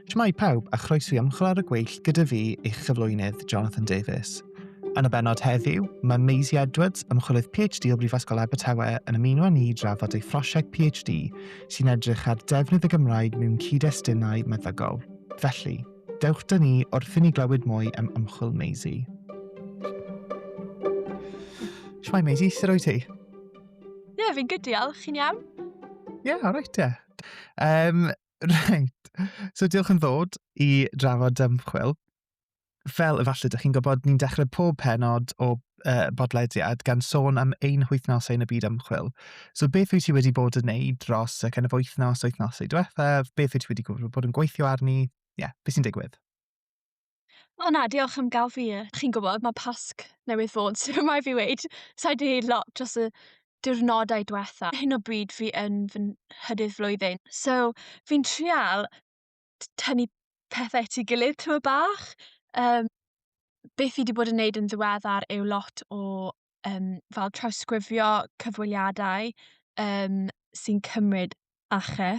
Shwmae pawb a chroeso i ymchwil ar y gweill gyda fi, eich cyflwynydd, Jonathan Davies. Yn y benod heddiw, mae Maisie Edwards, ymchwilydd PhD o Brifysgol Abertawe, yn ymuno â ni i drafod ei phrosiect PhD sy'n edrych ar defnydd y Gymraeg mewn cyd-destunau meddygol. Felly, dewch dyn ni wrth i ni glywed mwy am ymchwil Maisie. Shwmae Maisie, sut o'i ti? Ie, yeah, fi'n good, diolch. Chi'n iawn? Ie, yeah, alright, ie. Yeah. Yym reit so diolch am ddod i drafod Dymchwel. Fel efallai dach chi'n gwybod ni'n dechrau pob pennod o yy bodlediad gan sôn am ein hwythnosau yn y byd ymchwil. So beth wyt ti wedi bod yn wneud dros y kind of wythnos, wythnosau diwethaf? Beth wyt ti wedi bod yn gweithio arni? Ie, beth sy'n digwydd? O na, diolch am gael fi. Chi'n gwybod, mae Pasg newydd fod, so mae fi wedi sa'i wedi gwneud lot dros y diwrnodau diwetha. Hyn o bryd fi yn fy nhydydd flwyddyn, so fi'n trial tynnu pethau at ei gilydd tyma bach. Um, beth fi wedi bod yn neud yn ddiweddar yw lot o um, fel trawsgrifio cyfweliadau um, sy'n cymryd ache.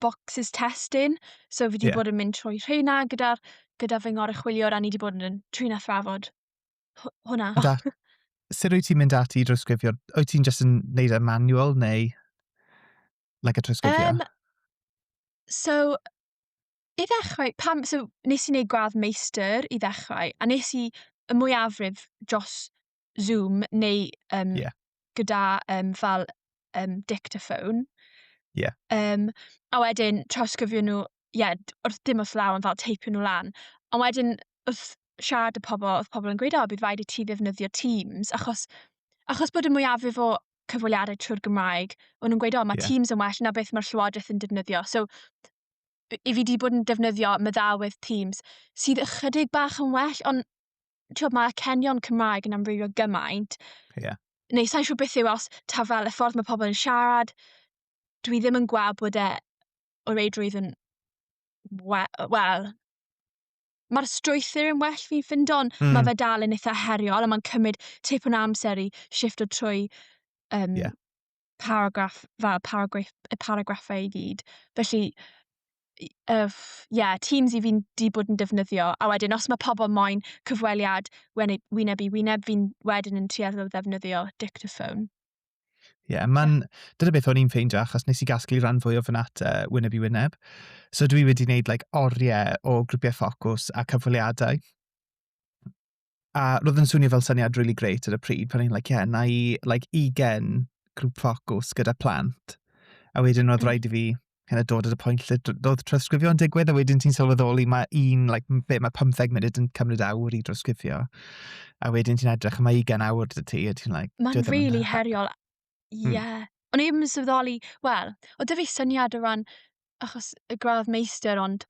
boxes testyn, so fi wedi yeah. bod yn mynd trwy rheina gyda, gyda fy ngoruchwyliwr a ni wedi bod yn trin a thrafod hwnna. Da, sut wyt ti'n mynd ati i drosgrifio? Wyt ti'n just yn neud y e manual neu like a trosgrifio? Um, so, i ddechrau, pam, so, nes i wneud gwadd meistr i ddechrau, a nes i y mwyafrif dros Zoom neu um, yeah. gyda um, fel um, dictaphone. Yeah. Um, a wedyn trawsgrifio nhw, ie, yeah, wrth dim wrth law, ond fel teipio nhw lan. Ond wedyn, wrth siarad y pobl, oedd pobl yn gweud, o, bydd rhaid i ti ddefnyddio Teams, achos, achos bod y mwyafrif o cyfweliadau trwy'r Gymraeg, o'n nhw'n gweud, o, mae yeah. Teams yn well na beth mae'r Llywodraeth yn defnyddio. So, i fi wedi bod yn defnyddio meddawydd Teams, sydd ychydig bach yn well, ond ti'n mae acenion Cymraeg yn amrywio gymaint. Yeah. Neu sa'n siŵr beth yw os ta fel y ffordd mae pobl yn siarad, dwi ddim yn gweld bod e o reidrwydd yn wel, well, mae'r strwythyr yn well fi'n ffind ond mm. mae hmm. fe dal yn eitha heriol a mae'n cymryd tipyn o amser i shift o trwy um, yeah. paragraff fel paragraff, y paragraffau i gyd. Felly, ie, uh, yeah, Teams i fi'n di bod yn defnyddio, a wedyn os mae pobl moyn cyfweliad e, wyneb i wyneb, fi'n wedyn yn tueddol o ddefnyddio dictaphone. Ie, yeah, mae'n... Dyna beth o'n i'n ffeindio, achos nes i gasglu rhan fwy o fy nata wyneb i wyneb. So dwi wedi gwneud like, oriau o grwpiau ffocws a cyfweliadau. A roedd yn swnio fel syniad rili grêt ar y pryd, pan o'n i'n like, ie, na i like, 20 grŵp ffocws gyda plant. A wedyn oedd mm. rhaid i fi kind of dod at y pwynt lle doedd trawsgrifio yn digwydd, a wedyn ti'n sylweddoli mae un, like, be, mae 15 munud yn cymryd awr i drawsgrifio. A wedyn ti'n edrych, mae 20 awr dy ti, a ti'n like... Mae'n really yn... heriol. Ie. Mm. Yeah. O'n i ddim yn sylweddoli, wel, o dy fi syniad o ran achos y gradd meistr, ond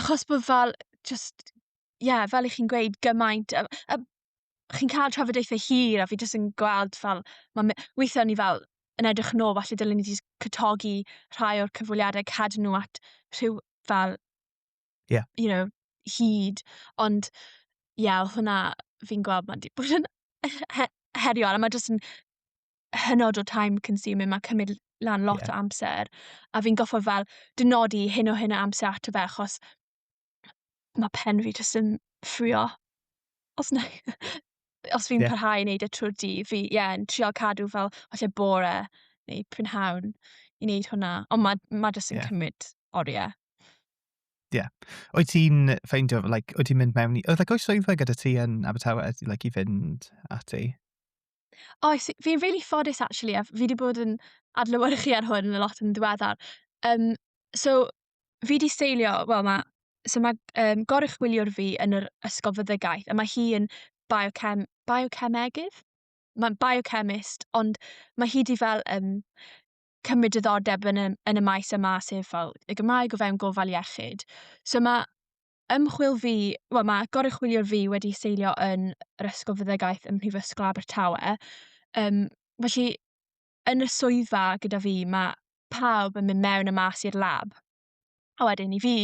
achos bod fel jyst ie yeah, fel i chi'n gweud gymaint a, a chi'n cael trafodaethau hir a fi jyst yn gweld fel mae weithiau ni fel yn edrych yn ôl falle dylen ni jyst cytogi rhai o'r cyfweliadau cadw nhw at rhyw fel yeah. you know hyd ond ie yeah, hwnna fi'n gweld mae'n wedi bod yn heriol a mae jyst yn hynod o time consuming, mae cymryd lan lot yeah. o amser, a fi'n goffa fel dynodi hyn o hyn o amser ato fe, achos mae pen fi jyst yn ffrio. Os, na, os fi'n yeah. parhau i wneud y trwy'r di, fi, ie, yeah, yn trial cadw fel, falle bore neu prynhawn i wneud hwnna. Ond mae ma jyst yn yeah. cymryd oriau. Ie. Yeah. Oed ti'n ffeindio, like, oed ti'n mynd mewn i... Oedd like, oes swyddfa gyda ti yn Abertawe like, i fynd ati? Oes, oh, fi'n really ffodus actually, a fi wedi bod yn adlywyrchu ar hwn yn y lot yn ddiweddar. Um, so, fi wedi seilio, wel mae, so mae um, gorwch gwyliwr fi yn yr ysgol fyddegaeth, a mae hi yn biochem, biocemegydd? Mae'n biochemist, ond mae hi wedi fel um, cymryd diddordeb yn y, yn y maes yma, sef fel y Gymraeg o fewn gofal iechyd. So mae ymchwil fi, wel mae goruchwyliwr fi wedi seilio yn yr Ysgol Fyddegaeth ym Mhrifysgol Abertawe. Um, felly, yn y swyddfa gyda fi, mae pawb yn mynd mewn y mas i'r lab. A wedyn i fi,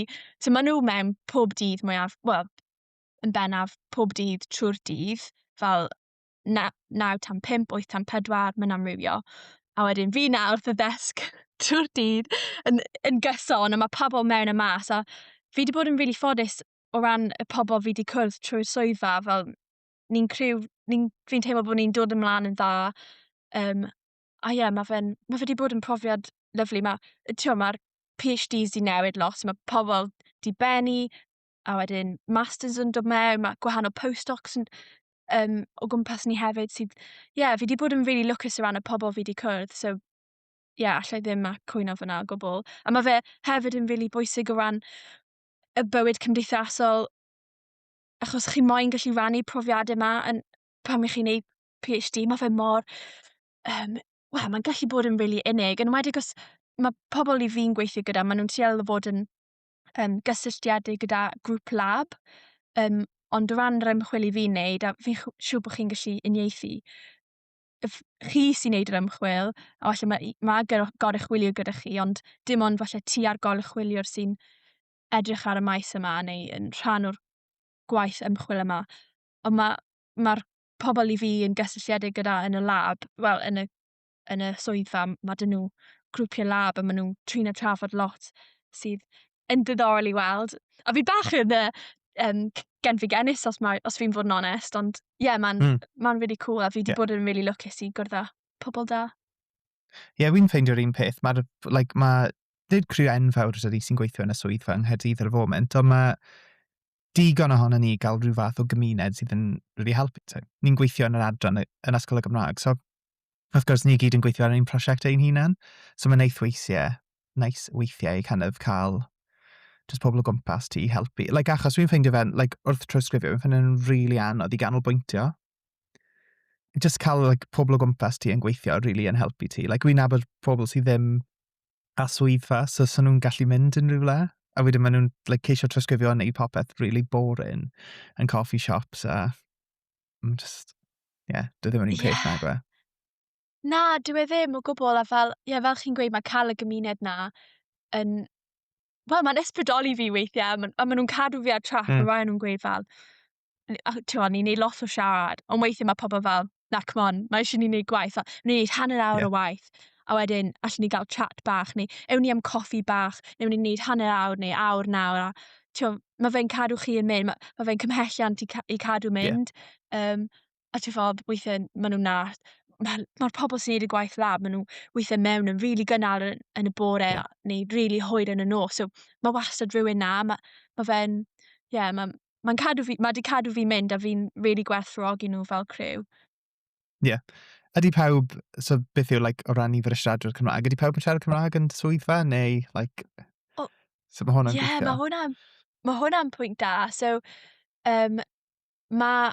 so maen nhw mewn pob dydd mwyaf, wel, yn bennaf pob dydd trwy'r dydd, fel na, 9 tan 5, 8 tan 4, mae'n amrywio. A wedyn fi na wrth y ddesg trwy'r dydd yn, yn gyson, a mae pobl mewn y mas, a fi wedi bod yn rili really ffodus o ran y pobl fi wedi cwrdd trwy'r swyddfa, fel ni'n criw, ni, fi'n teimlo bod ni'n dod ymlaen yn dda. Um, a ie, yeah, mae fe ma wedi bod yn profiad lyflu. Mae'r ma PhDs di newid lot, mae pobl di benni, a wedyn masters yn dod mewn, mae gwahanol postdocs yn um, o gwmpas ni hefyd sydd, ie, yeah, fi wedi bod yn really lwcus o ran y pobl fi wedi cwrdd, so ie, yeah, allai ddim a cwyno fyna o gwbl. A mae fe hefyd yn really bwysig o ran y bywyd cymdeithasol, achos chi moyn gallu rannu profiadau yma yn, pan chi'n ei PhD, mae fe mor, um, wel, mae'n gallu bod yn really unig, yn wedi os mae pobl i fi'n gweithio gyda, maen nhw'n trial fod yn um, gysylltiedig gyda grŵp lab, um, ond o ran yr ymchwil i fi'n neud, a fi'n siŵr bod chi'n gallu uniaethu, chi sy'n neud yr ymchwil, a falle mae, ma goruchwilio gyda chi, ond dim ond falle ti a'r goruchwiliwr sy'n edrych ar y maes yma neu yn rhan o'r gwaith ymchwil yma. Ond mae'r ma, ma pobl i fi yn gysylltiedig gyda yn y lab, wel, yn y yn y swyddfa, mae dyn nhw grwpiau lab a maen nhw'n trin a trafod lot sydd yn diddorol i weld. A fi bach yn uh, um, gen fi genus os, mae, os fi'n fod yn onest, ond ie, yeah, mae'n mm. ma really cool a fi wedi yeah. bod yn really lwcus i gwrdd â pobl da. Ie, yeah, fi'n ffeindio'r un peth. Mae'r, like, mae, nid criw enfawr ydy sy'n gweithio yn y swyddfa yng Nghaerdydd ar y foment, ond mae digon ohono ni gael rhyw fath o gymuned sydd yn really helpu. Ni'n gweithio yn yr adran yn Ysgol y Gymraeg, so Wrth gwrs, ni gyd yn gweithio ar ein prosiect ein hunain, so mae'n neis weithiau, neis weithiau i kind of cael just pobl o gwmpas ti i helpu. Like, achos fi'n ffeindio fe'n, like, wrth trawsgrifio, fi'n ffeindio fe'n rili really anodd i ganolbwyntio. Just cael like, pobl o gwmpas ti yn gweithio rili really yn helpu ti. Like, fi'n nabod pobl sydd ddim a swyddfa, so so nhw'n gallu mynd yn rhywle. A wedyn maen nhw'n like, ceisio trawsgrifio yn neud popeth really boring yn coffee shops a mm, just, ie, yeah, dwi ddim yn un peth yeah. nag e. Na, dwi e ddim o gwbl, a fel, ie, yeah, fel chi'n gweud, mae cael y gymuned na yn, wel, mae'n ysbrydoli fi weithiau, a maen ma nhw'n cadw fi ar trac, mm. mae nhw'n gweud fel, ti'n ni'n neud lot o siarad, ond weithiau mae pobl fel, na, come on, mae eisiau ni'n neud gwaith, a ni'n neud hanner awr yeah. o waith, a wedyn allwn ni gael chat bach, neu ewn ni am coffi bach, neu ewn ni'n neud hanner awr, neu awr nawr, a ti'n mae fe'n cadw chi yn mynd, mae, ma fe'n cymhelliant i, ca i cadw mynd. Yeah. Um, a ti'n ffordd, weithiau maen nhw'n nath, mae'r ma, ma pobl sy'n neud y gwaith lab, maen nhw weithiau mewn yn rili really gynnar yn, yn y bore yeah. neu rili really hwyr yn y nos. So mae wastad rhywun na, mae ma fe'n, ie, yeah, mae'n ma, ma cadw fi, mae di cadw fi mynd a fi'n rili really gwerthfawrogi nhw fel criw. Ie. Ydy pawb... so beth yw like, o ran nifer o siaradwyr Cymraeg, ydy pawb yn siarad Cymraeg yn dy swyddfa neu like... O, sut mae hwnna'n ie, gweithio? Ie, mae hwnna'n ma hwnna pwynt da. So, um, mae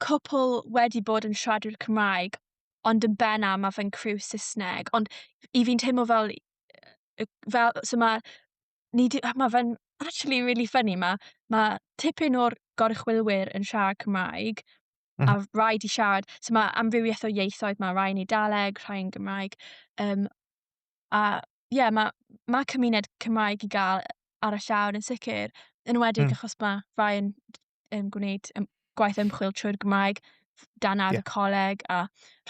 cwpl wedi bod yn siaradwyr Cymraeg, ond yn benna mae fe'n criw Saesneg. Ond i fi'n teimlo fel, fel so mae, ni di, mae fe'n actually really funny, mae, mae tipyn o'r gorchwylwyr yn siarad Cymraeg, Mm. A rhaid i siarad. So mae amrywiaeth o ieithoedd, mae rhai'n Eidaleg, rhai'n Gymraeg. Um, a ie, yeah, mae ma cymuned Cymraeg i gael ar y llawr yn sicr, yn wedi mm. achos mae rhai yn um, gwneud um, gwaith ymchwil trwy'r Gymraeg dan ar yeah. y coleg a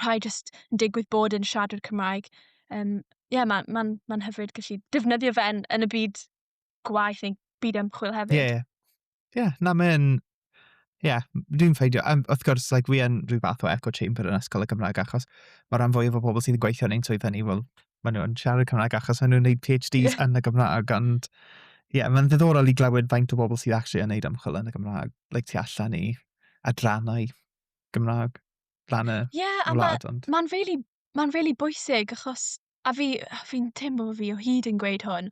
rhai jyst yn digwydd bod yn siadwr Cymraeg. Um, yeah, mae'n ma, n, ma n hyfryd gallu defnyddio fe'n yn y byd gwaith neu byd ymchwil hefyd. Ie, yeah. ie. Yeah, na, mae'n... Ie, yeah, dwi'n ffeindio. Um, wrth gwrs, like, fi yn rhyw fath o echo chamber yn ysgol y Gymraeg, achos mae rhan fwyaf o bobl sydd yn gweithio yn ein swyddfa ni, wel, maen nhw'n siarad Cymraeg achos maen nhw'n gwneud PhDs yeah. yn y Gymraeg, ond ie, yeah, mae'n ddiddorol i glywed faint o bobl sydd actually yn gwneud ymchwil yn y Gymraeg, like, tu allan i adrannau Gymraeg, ran y yeah, wlad. Ie, yeah, a mae'n really, ma really bwysig, achos a fi fi'n teimlo bo' fi o hyd yn gweud hwn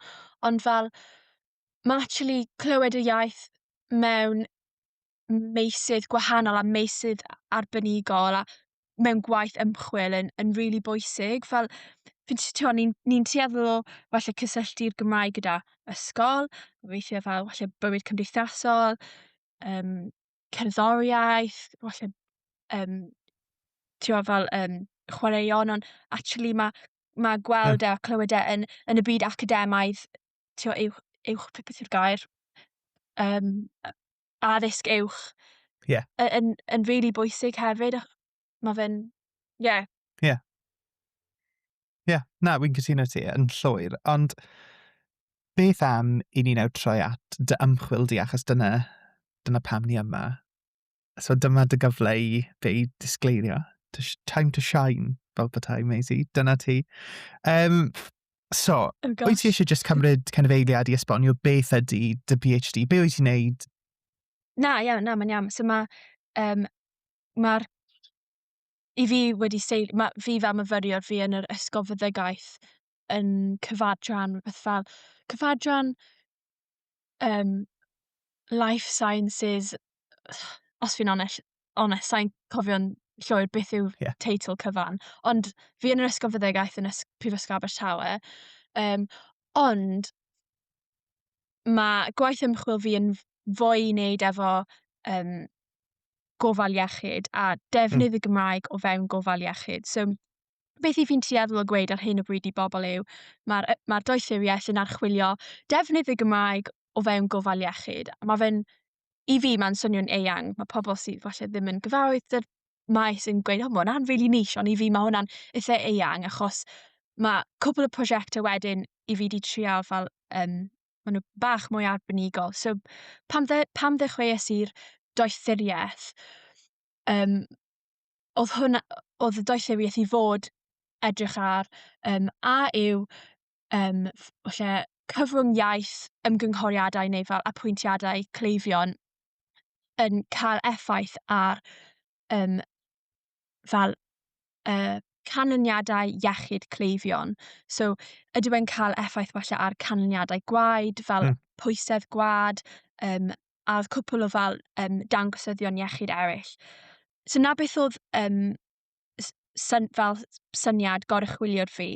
ond fel ma' actually clywed y iaith mewn meysydd gwahanol a meysydd arbenigol a mewn gwaith ymchwil yn yn rili bwysig fel fi'n t- t'mo' ni'n ni'n tueddol o falle cysylltu'r Gymraeg gyda ysgol, weithie fel falle bywyd cymdeithasol yym cerddoriaeth, falle yym t'mo' fel yym chwaraeon ond actually ma' ma' gweld e a clywed e yn yn y byd academaidd t'mo' uwch uwch be' beth yw'r gair? Yym yy addysg uwch. Ie. Y- yn yn rili bwysig hefyd a Mae fe'n... Ie. Yeah. Ie. Yeah. Ie, yeah. na, wy'n cytuno ti yn llwyr, ond beth am i ni nawr troi at dy ymchwil di, achos dyna, dyna pam ni yma. So dyma dy gyfle i be i disgleirio. Time to shine, fel bethau, Maisie. Dyna ti. Um, so, oh wyt ti eisiau just cymryd kind of eiliad i esbonio beth ydy dy PhD? Be wyt ti'n neud? Na, iawn, na, mae'n iawn. So mae um, ma'r... i fi wedi seil- ma' fi fel myfyriwr fi yn yr ysgol fyddegaeth yn cyfadran rywbeth fel cyfadran yym life sciences os fi'n onell- onest sai'n cofio'n llwyr beth yw'r... Ie. ...teitl cyfan ond fi yn yr ysgol fyddegaeth yn ys- Prifysgol Abertawe yym ond ma' gwaith ymchwil fi yn f- fwy i wneud efo yym gofal iechyd a defnydd hmm. y Gymraeg o fewn gofal iechyd. So, beth i fi'n tueddol o gweud ar hyn o bryd i bobl yw, mae'r ma doethuriaeth yn archwilio defnydd y Gymraeg o fewn gofal iechyd. Mae fe'n, i fi, mae'n swnio'n eang. Mae pobl sydd falle ddim yn gyfarwydd dy'r maes yn gweud, o, mae hwnna'n really niche, ond i fi mae hwnna'n eitha eang, achos mae cwbl y prosiectau wedyn i fi wedi trial fel um, maen nhw bach mwy arbenigol. So, pam, dde, pam ddechreuais i'r doethuriaeth, um, oedd hwnna, oedd y doethuriaeth i fod edrych ar um, a yw um, lle cyfrwng iaith, ymgynghoriadau neu fel apwyntiadau cleifion yn cael effaith ar um, fel uh, canlyniadau iechyd cleifion. So, ydyw e'n cael effaith falle ar canlyniadau gwaed, fel mm. pwysedd gwad, um, a oedd cwpl o fel um, dangosyddion iechyd eraill. So, na beth oedd um, syn, fel syniad goruchwiliwr fi.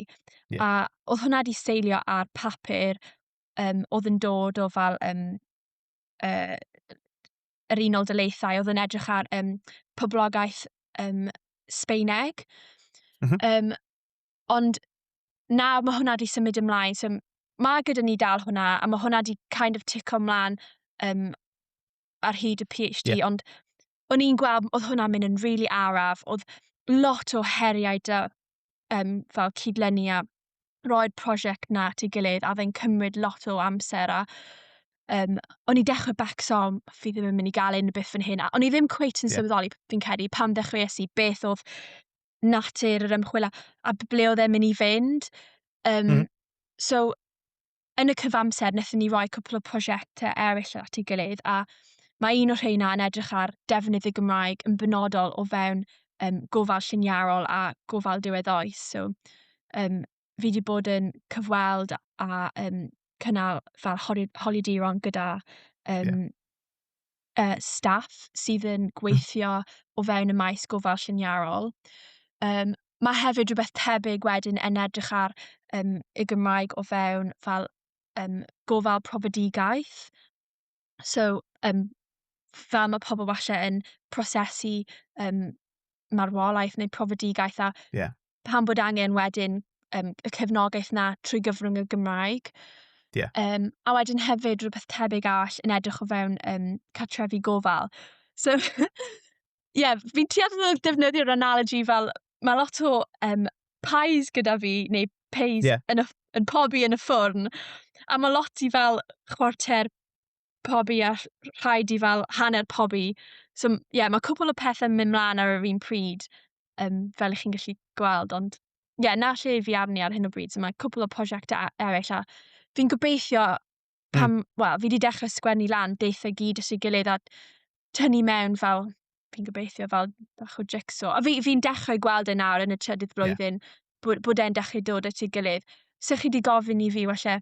Yeah. A oedd hwnna wedi seilio ar papur um, oedd yn dod o fel um, uh, yr Unol Daleithiau oedd yn edrych ar um, poblogaeth um, Sbeineg. Mm -hmm. um, ond na, mae hwnna wedi symud ymlaen. So, mae gyda ni dal hwnna, a mae hwnna wedi kind of tico ymlaen um, ar hyd y PhD, yeah. ond o'n i'n gweld, oedd hwnna'n mynd yn rili really araf, oedd lot o heriau da, um, fel cydlenni a roi'r prosiect na at ei gilydd a fe'n cymryd lot o amser a um, o'n i dechrau becso, fi ddim yn mynd i gael un beth fan hyn. A o'n i ddim cweit yn yeah. sylweddoli, fi'n credu, pan ddechreuais i, beth oedd natur yr ymchwil a, a ble oedd e'n mynd i fynd. Um, mm. So, yn y cyfamser wnaethon ni roi cwpl o prosiectau eraill at ei gilydd a mae un o rheina yn edrych ar defnydd y Gymraeg yn benodol o fewn um, gofal lliniarol a gofal diwedd oes. So, um, fi wedi bod yn cyfweld a um, cynnal fel holidiron gyda um, yeah. uh, staff sydd yn hmm. gweithio o fewn y maes gofal lliniarol. Um, mae hefyd rhywbeth tebyg wedyn yn edrych ar um, y Gymraeg o fewn fel um, gofal profedigaeth. So, um, fel mae pobl falle yn prosesu um, marwolaeth neu profedigaeth a yeah. pan bod angen wedyn um, y cefnogaeth na trwy gyfrwng y Gymraeg. Yeah. Um, a wedyn hefyd rhywbeth tebyg all yn edrych o fewn um, catrefi gofal. So, ie, yeah, fi'n trial defnyddio'r analogy fel mae lot o um, pies gyda fi, neu pies yeah. yn, y, yn pobi yn y ffwrn, a mae lot i fel chwarter pobi a rhaid i fel hanner pobi. So m- ie, mae cwpl o pethau yn mynd mlaen ar yr un pryd, um, fel ych chi'n gallu gweld, ond ie, na lle fi arni ar hyn o bryd. So mae cwpl o prosiectau eraill a fi'n gobeithio hmm. pan, mm. wel, fi wedi dechrau sgwennu lan beth y gyd ys i gilydd a tynnu mewn fel, fi'n gobeithio fel bach o jigsaw. A fi'n fi, fi dechrau gweld e nawr yn y trydydd flwyddyn yeah. bod, bod e'n dechrau dod at ei gilydd. So chi wedi gofyn i fi, well,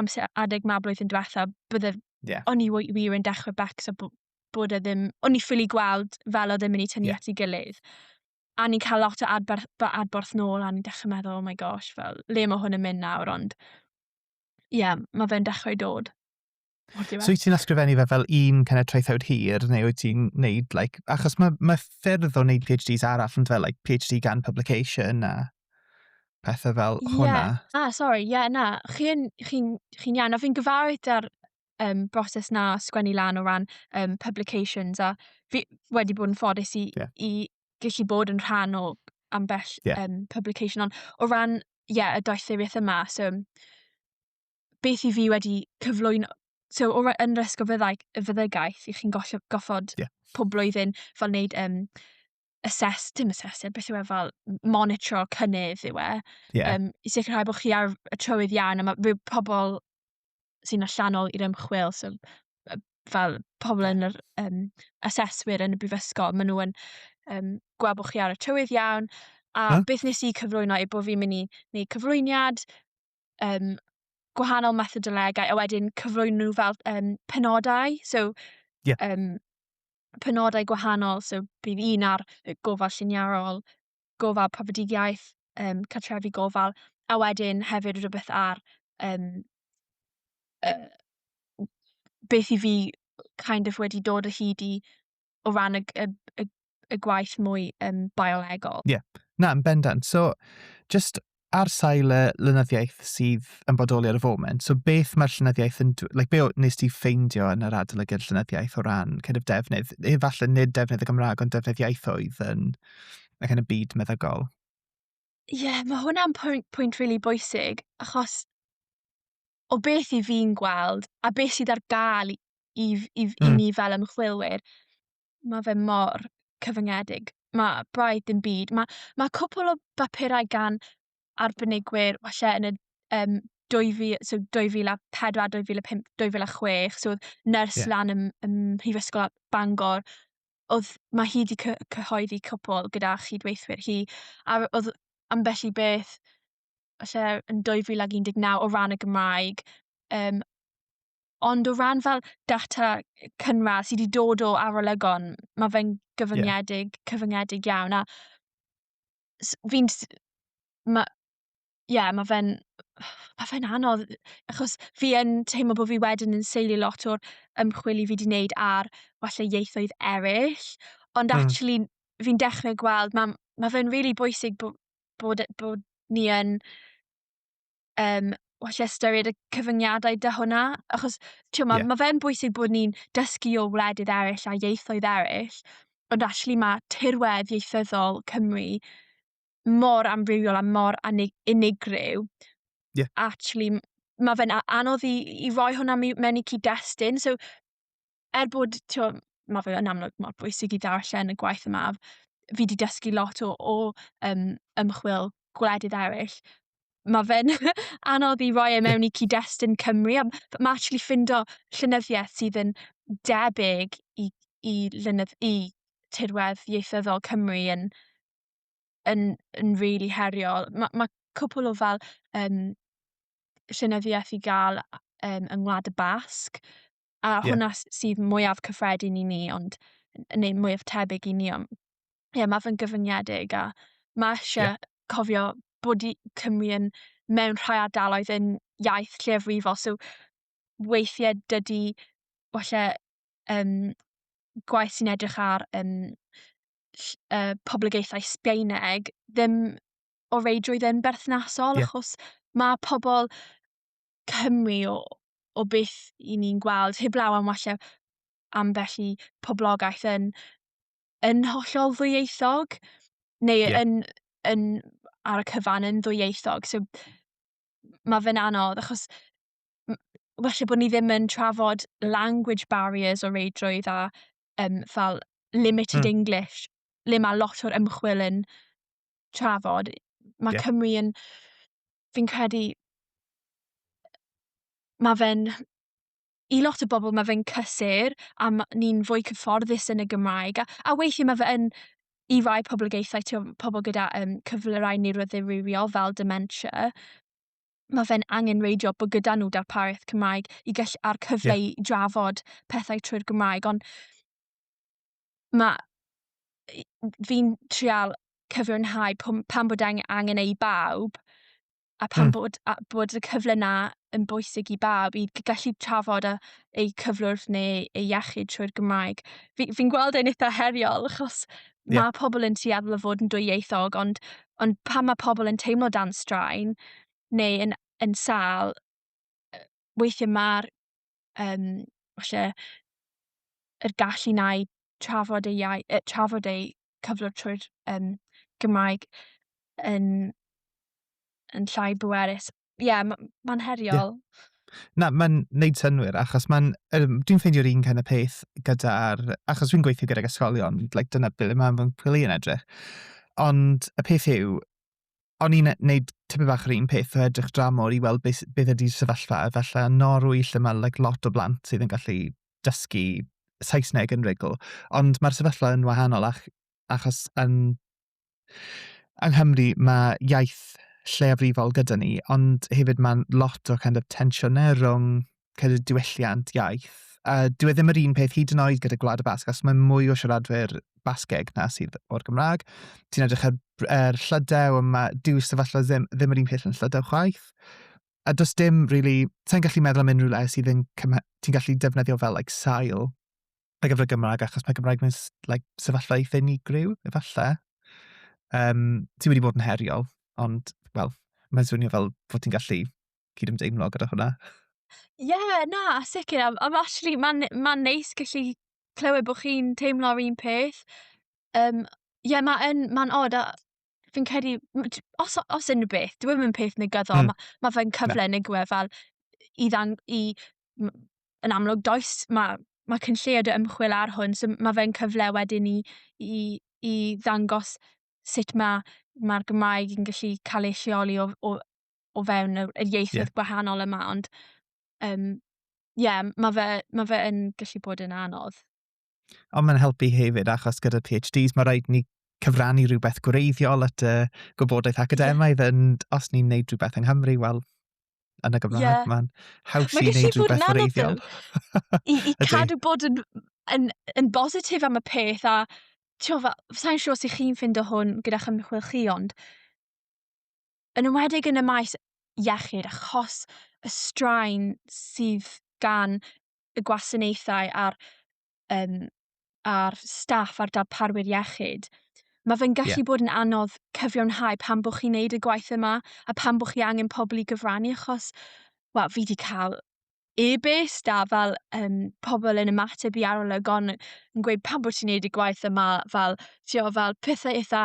amser adeg ma blwyddyn diwetha, bydde... Yeah. O'n i wir yn dechrau becs a bod e ddim... O'n i ffili gweld fel o ddim yn ei tynnu yeah. at ei gilydd. A ni'n cael lot o adborth, adborth nôl a ni'n dechrau meddwl, oh my gosh, fel, le mae hwn yn mynd nawr, ond... Ie, yeah, mae fe'n dechrau dod. So wyt ti'n ysgrifennu fe fel un kind of traethawd hir, neu wyt ti'n neud, like, achos mae, mae ffyrdd o wneud PhDs arall yn fel, like, PhD gan publication a pethau fel yeah. hwnna. Ah, sorry, ie, yeah, na. Chi'n chi, chi iawn, a fi'n gyfarwydd da'r um, broses na sgwennu lan o ran um, publications, a fi wedi bod yn ffodus i, yeah. i gallu bod yn rhan o ambell yeah. um, publication, ond o ran, ie, yeah, y doethuriaeth yma, so beth i fi wedi cyflwyno, so o, yn yr ysgol fyddai, y fyddygaeth i chi'n gollio, goffod yeah. pob blwyddyn fel wneud um, assess, dim assess, e, beth yw e fel monitro cynnydd yw e. Yeah. Um, I sicrhau bod chi ar y trywydd iawn, a mae pobl sy'n allanol i'r ymchwil, so fel pobl yn yr um, aseswyr yn y brifysgol, maen nhw'n um, gweld bod chi ar y tywydd iawn, a huh? beth nes i cyflwyno yw bod fi'n mynd i wneud cyflwyniad, um, gwahanol methodolegau a wedyn cyflwyno nhw fel um, penodau. So, yeah. um, penodau gwahanol, so bydd un ar gofal lliniarol, gofal profedigaeth, um, cartrefi gofal, a wedyn hefyd rhywbeth ar um, uh, beth i fi kind of wedi dod o hyd i o ran y, y, y, y gwaith mwy um, biolegol. Ie, yeah. na, yn bendant. So, just ar sail y llenyddiaeth sydd yn bodoli ar y foment, so beth mae'r llenyddiaeth yn... Like, be nes ti ffeindio yn yr adolygiad llenyddiaeth o ran kind of defnydd, efallai nid defnydd y Gymraeg, ond defnydd iaethoedd yn y kind of byd meddygol? Ie, yeah, mae hwnna'n pwynt, pwynt really bwysig, achos o beth i fi'n gweld a beth sydd ar gael i, i, i, mm. i hmm. ni fel ymchwilwyr, mae fe mor cyfyngedig. Mae braidd dim byd. Mae, mae cwpl o bapurau gan arbenigwyr, falle yn y um, 2000, so 2004, 2005, 2006, so oedd nyrs yeah. lan ym, ym Mhrifysgol Bangor, oedd, mae hi wedi cyhoeddi cwpl gyda chydweithwyr hi, a oedd ambell i beth falle yn 2019 o ran y Gymraeg, um, ond o ran fel data cynradd sydd wedi dod o arolygon, mae fe'n gyfyngedig, yeah. cyfyngedig iawn. A fi'n... Mae... Ie, yeah, mae fe'n... Mae fe'n anodd, achos fi yn teimlo bod fi wedyn yn seilio lot o'r ymchwil i fi wedi wneud ar falle ieithoedd eraill, ond mm. actually fi'n dechrau gweld, mae ma fe'n rili really bwysig bod bod e- bod ni yn yym well ystyried y cyfyngiadau 'da hwnna achos t'mo' ma'... Ie. ...ma' fe'n bwysig bod ni'n dysgu o wledydd eryll a ieithoedd eryll ond actually ma' tirwedd ieithyddol Cymru mor amrywiol a mor anig- unigryw. Ie. Actually m- ma' fe'n a- anodd i i roi hwnna mi- mewn i cyd-destun so er bod, tio, mae fe yn amlwg mor bwysig i ddarllen y gwaith yma, fi wedi dysgu lot o, o um, ymchwil gwledydd eraill, mae fe'n anodd i roi e mewn i cyd-destun Cymru, a mae actually ffindo llynyddiaeth sydd yn debyg i, i, lynydd, i tirwedd ieithyddol Cymru yn, yn, yn really heriol. Mae ma cwpl o fel um, llynyddiaeth i gael um, yng Ngwlad y Basg, A yeah. hwnna sydd mwyaf cyffredin i ni, ond neu mwyaf tebyg i ni. Ond, yeah, mae fe'n gyfyngiedig a mae eisiau yeah. cofio bod i Cymru yn mewn rhai ardaloedd yn iaith lleiafrifol. So, weithiau dydy, falle, um, gwaith sy'n edrych ar um, uh, poblogaethau Sbaeneg ddim o reidrwydd yn berthnasol, yeah. achos mae pobl Cymru o, o beth i ni'n gweld, heblaw am walle ambell i poblogaeth yn, yn hollol ddwyieithog, neu yeah. yn, yn ar y cyfan yn ddwyieithog. So, mae fe'n anodd, achos felly bod ni ddim yn trafod language barriers o reidrwydd a um, fel limited mm. English, le mae lot o'r ymchwil yn trafod. Mae yeah. Cymru yn fi'n credu ma' fe'n i lot o bobl ma' fe'n cysur a ma' ni'n fwy cyfforddus yn y Gymraeg a a weithie ma' fe yn i rai poblogaethau t'wo' pobol gyda yym cyflyrau niwroddirywiol fel dementia ma' fe'n angenreidiol bo' gyda nw darpariaeth Cymraeg i gell- a'r cyfle... Ie. ...i drafod pethau trwy'r Gymraeg on' ma' i- fi'n trial cyfiawnhau pw- pan bod ang- angen e i bawb a pan mm. bod a bod y cyfle 'na yn bwysig i bawb i gallu trafod a eu cyflwrdd neu eu iechyd trwy'r Gymraeg. Fi, fi'n gweld e'n eitha heriol achos yeah. mae pobl yn tueddol o fod yn dwyieithog ond, ond pan mae pobl yn teimlo dan straen neu yn, yn sal, weithiau mae'r yym falle yr gallu 'na i trafod ei iau- yy trafod eu cyflwr trwy'r yym Gymraeg yn yn llai bwerus. Ie ma' ma'n heriol. Ie. Na ma'n neud synnwyr achos ma'n yym dwi'n ffeindio'r un kind of peth gyda'r... Achos fi'n gweithio gydag ysgolion like dyna ble ma' fy nghwmni yn edrych ond y peth yw o'n i'n neud tipyn bach yr un peth o edrych dramor i weld beth beth ydi'r sefyllfa efallai yn Norwy lle ma' like lot o blant sydd yn gallu dysgu Saesneg yn rugl ond ma'r sefyllfa yn wahanol ach- achos yn yng Nghymru ma' iaith lleiafrifol gyda ni ond hefyd ma'n lot o kind of tensiynau rwng credu diwylliant iaith. A dyw e ddim yr un peth hyd yn oed gyda Gwlad y Basg, achos mae mwy o siaradwyr Basgeg na sydd o'r Gymraeg. Ti'n edrych ar er Llydew, mae dyw sefyllfa ddim, ddim yr un peth yn Llydew chwaith. A does dim, really, sa'n gallu meddwl am unrhyw le sydd yn ti'n gallu defnyddio fel, like, sail ar gyfer y Gymraeg, achos mae Gymraeg mewn like, sefyllfa eitha unigryw, efallai. Um, ti wedi bod yn heriol, ond, wel, mae'n swnio fel bod ti'n gallu cydymdeimlo gyda hwnna. Ie, yeah, na, sicr. Am, am actually, mae'n ma neis gallu clywed bod chi'n teimlo'r un peth. Um, ie, yeah, mae'n ma od a fi'n credu, os, os unrhyw beth, dwi'n mynd peth negyddol, mm. mae ma fe'n cyfle yn nigwe fel i, ddang, i yn amlwg does, mae ma cyn lleod y ymchwil ar hwn, so mae fe'n cyfle wedyn i, i, i ddangos sut mae mae'r Gymraeg yn gallu cael ei lleoli o, o o fewn yr, yr ieithoedd yeah. gwahanol yma, ond um, yeah, mae fe, ma fe yn gallu bod yn anodd. Ond mae'n helpu hefyd, achos gyda PhDs, mae rhaid ni cyfrannu rhywbeth gwreiddiol at y gwybodaeth academaidd, yeah. ond os ni'n neud rhywbeth yng Nghymru, wel, yn y Gymraeg, yeah. mae'n haws i wneud rhywbeth gwreiddiol. I, i cadw bod yn, yn, yn bositif am y peth, a ti'n fel, sa'n siŵr sut chi'n ffind o hwn gyda'ch ymchwil chi, ond yn ymwedig yn y maes iechyd achos y straen sydd gan y gwasanaethau a'r, um, a'r staff a'r darparwyr iechyd. Mae fe'n gallu yeah. bod yn anodd cyfiawnhau pan bod chi'n neud y gwaith yma a pan bod chi angen pobl i gyfrannu achos, wel, fi wedi cael e-byst a fel um, pobl yn ymateb i arolygon yn gweud pan bod ti'n neud y gwaith yma, fel, ti'n fel pethau eitha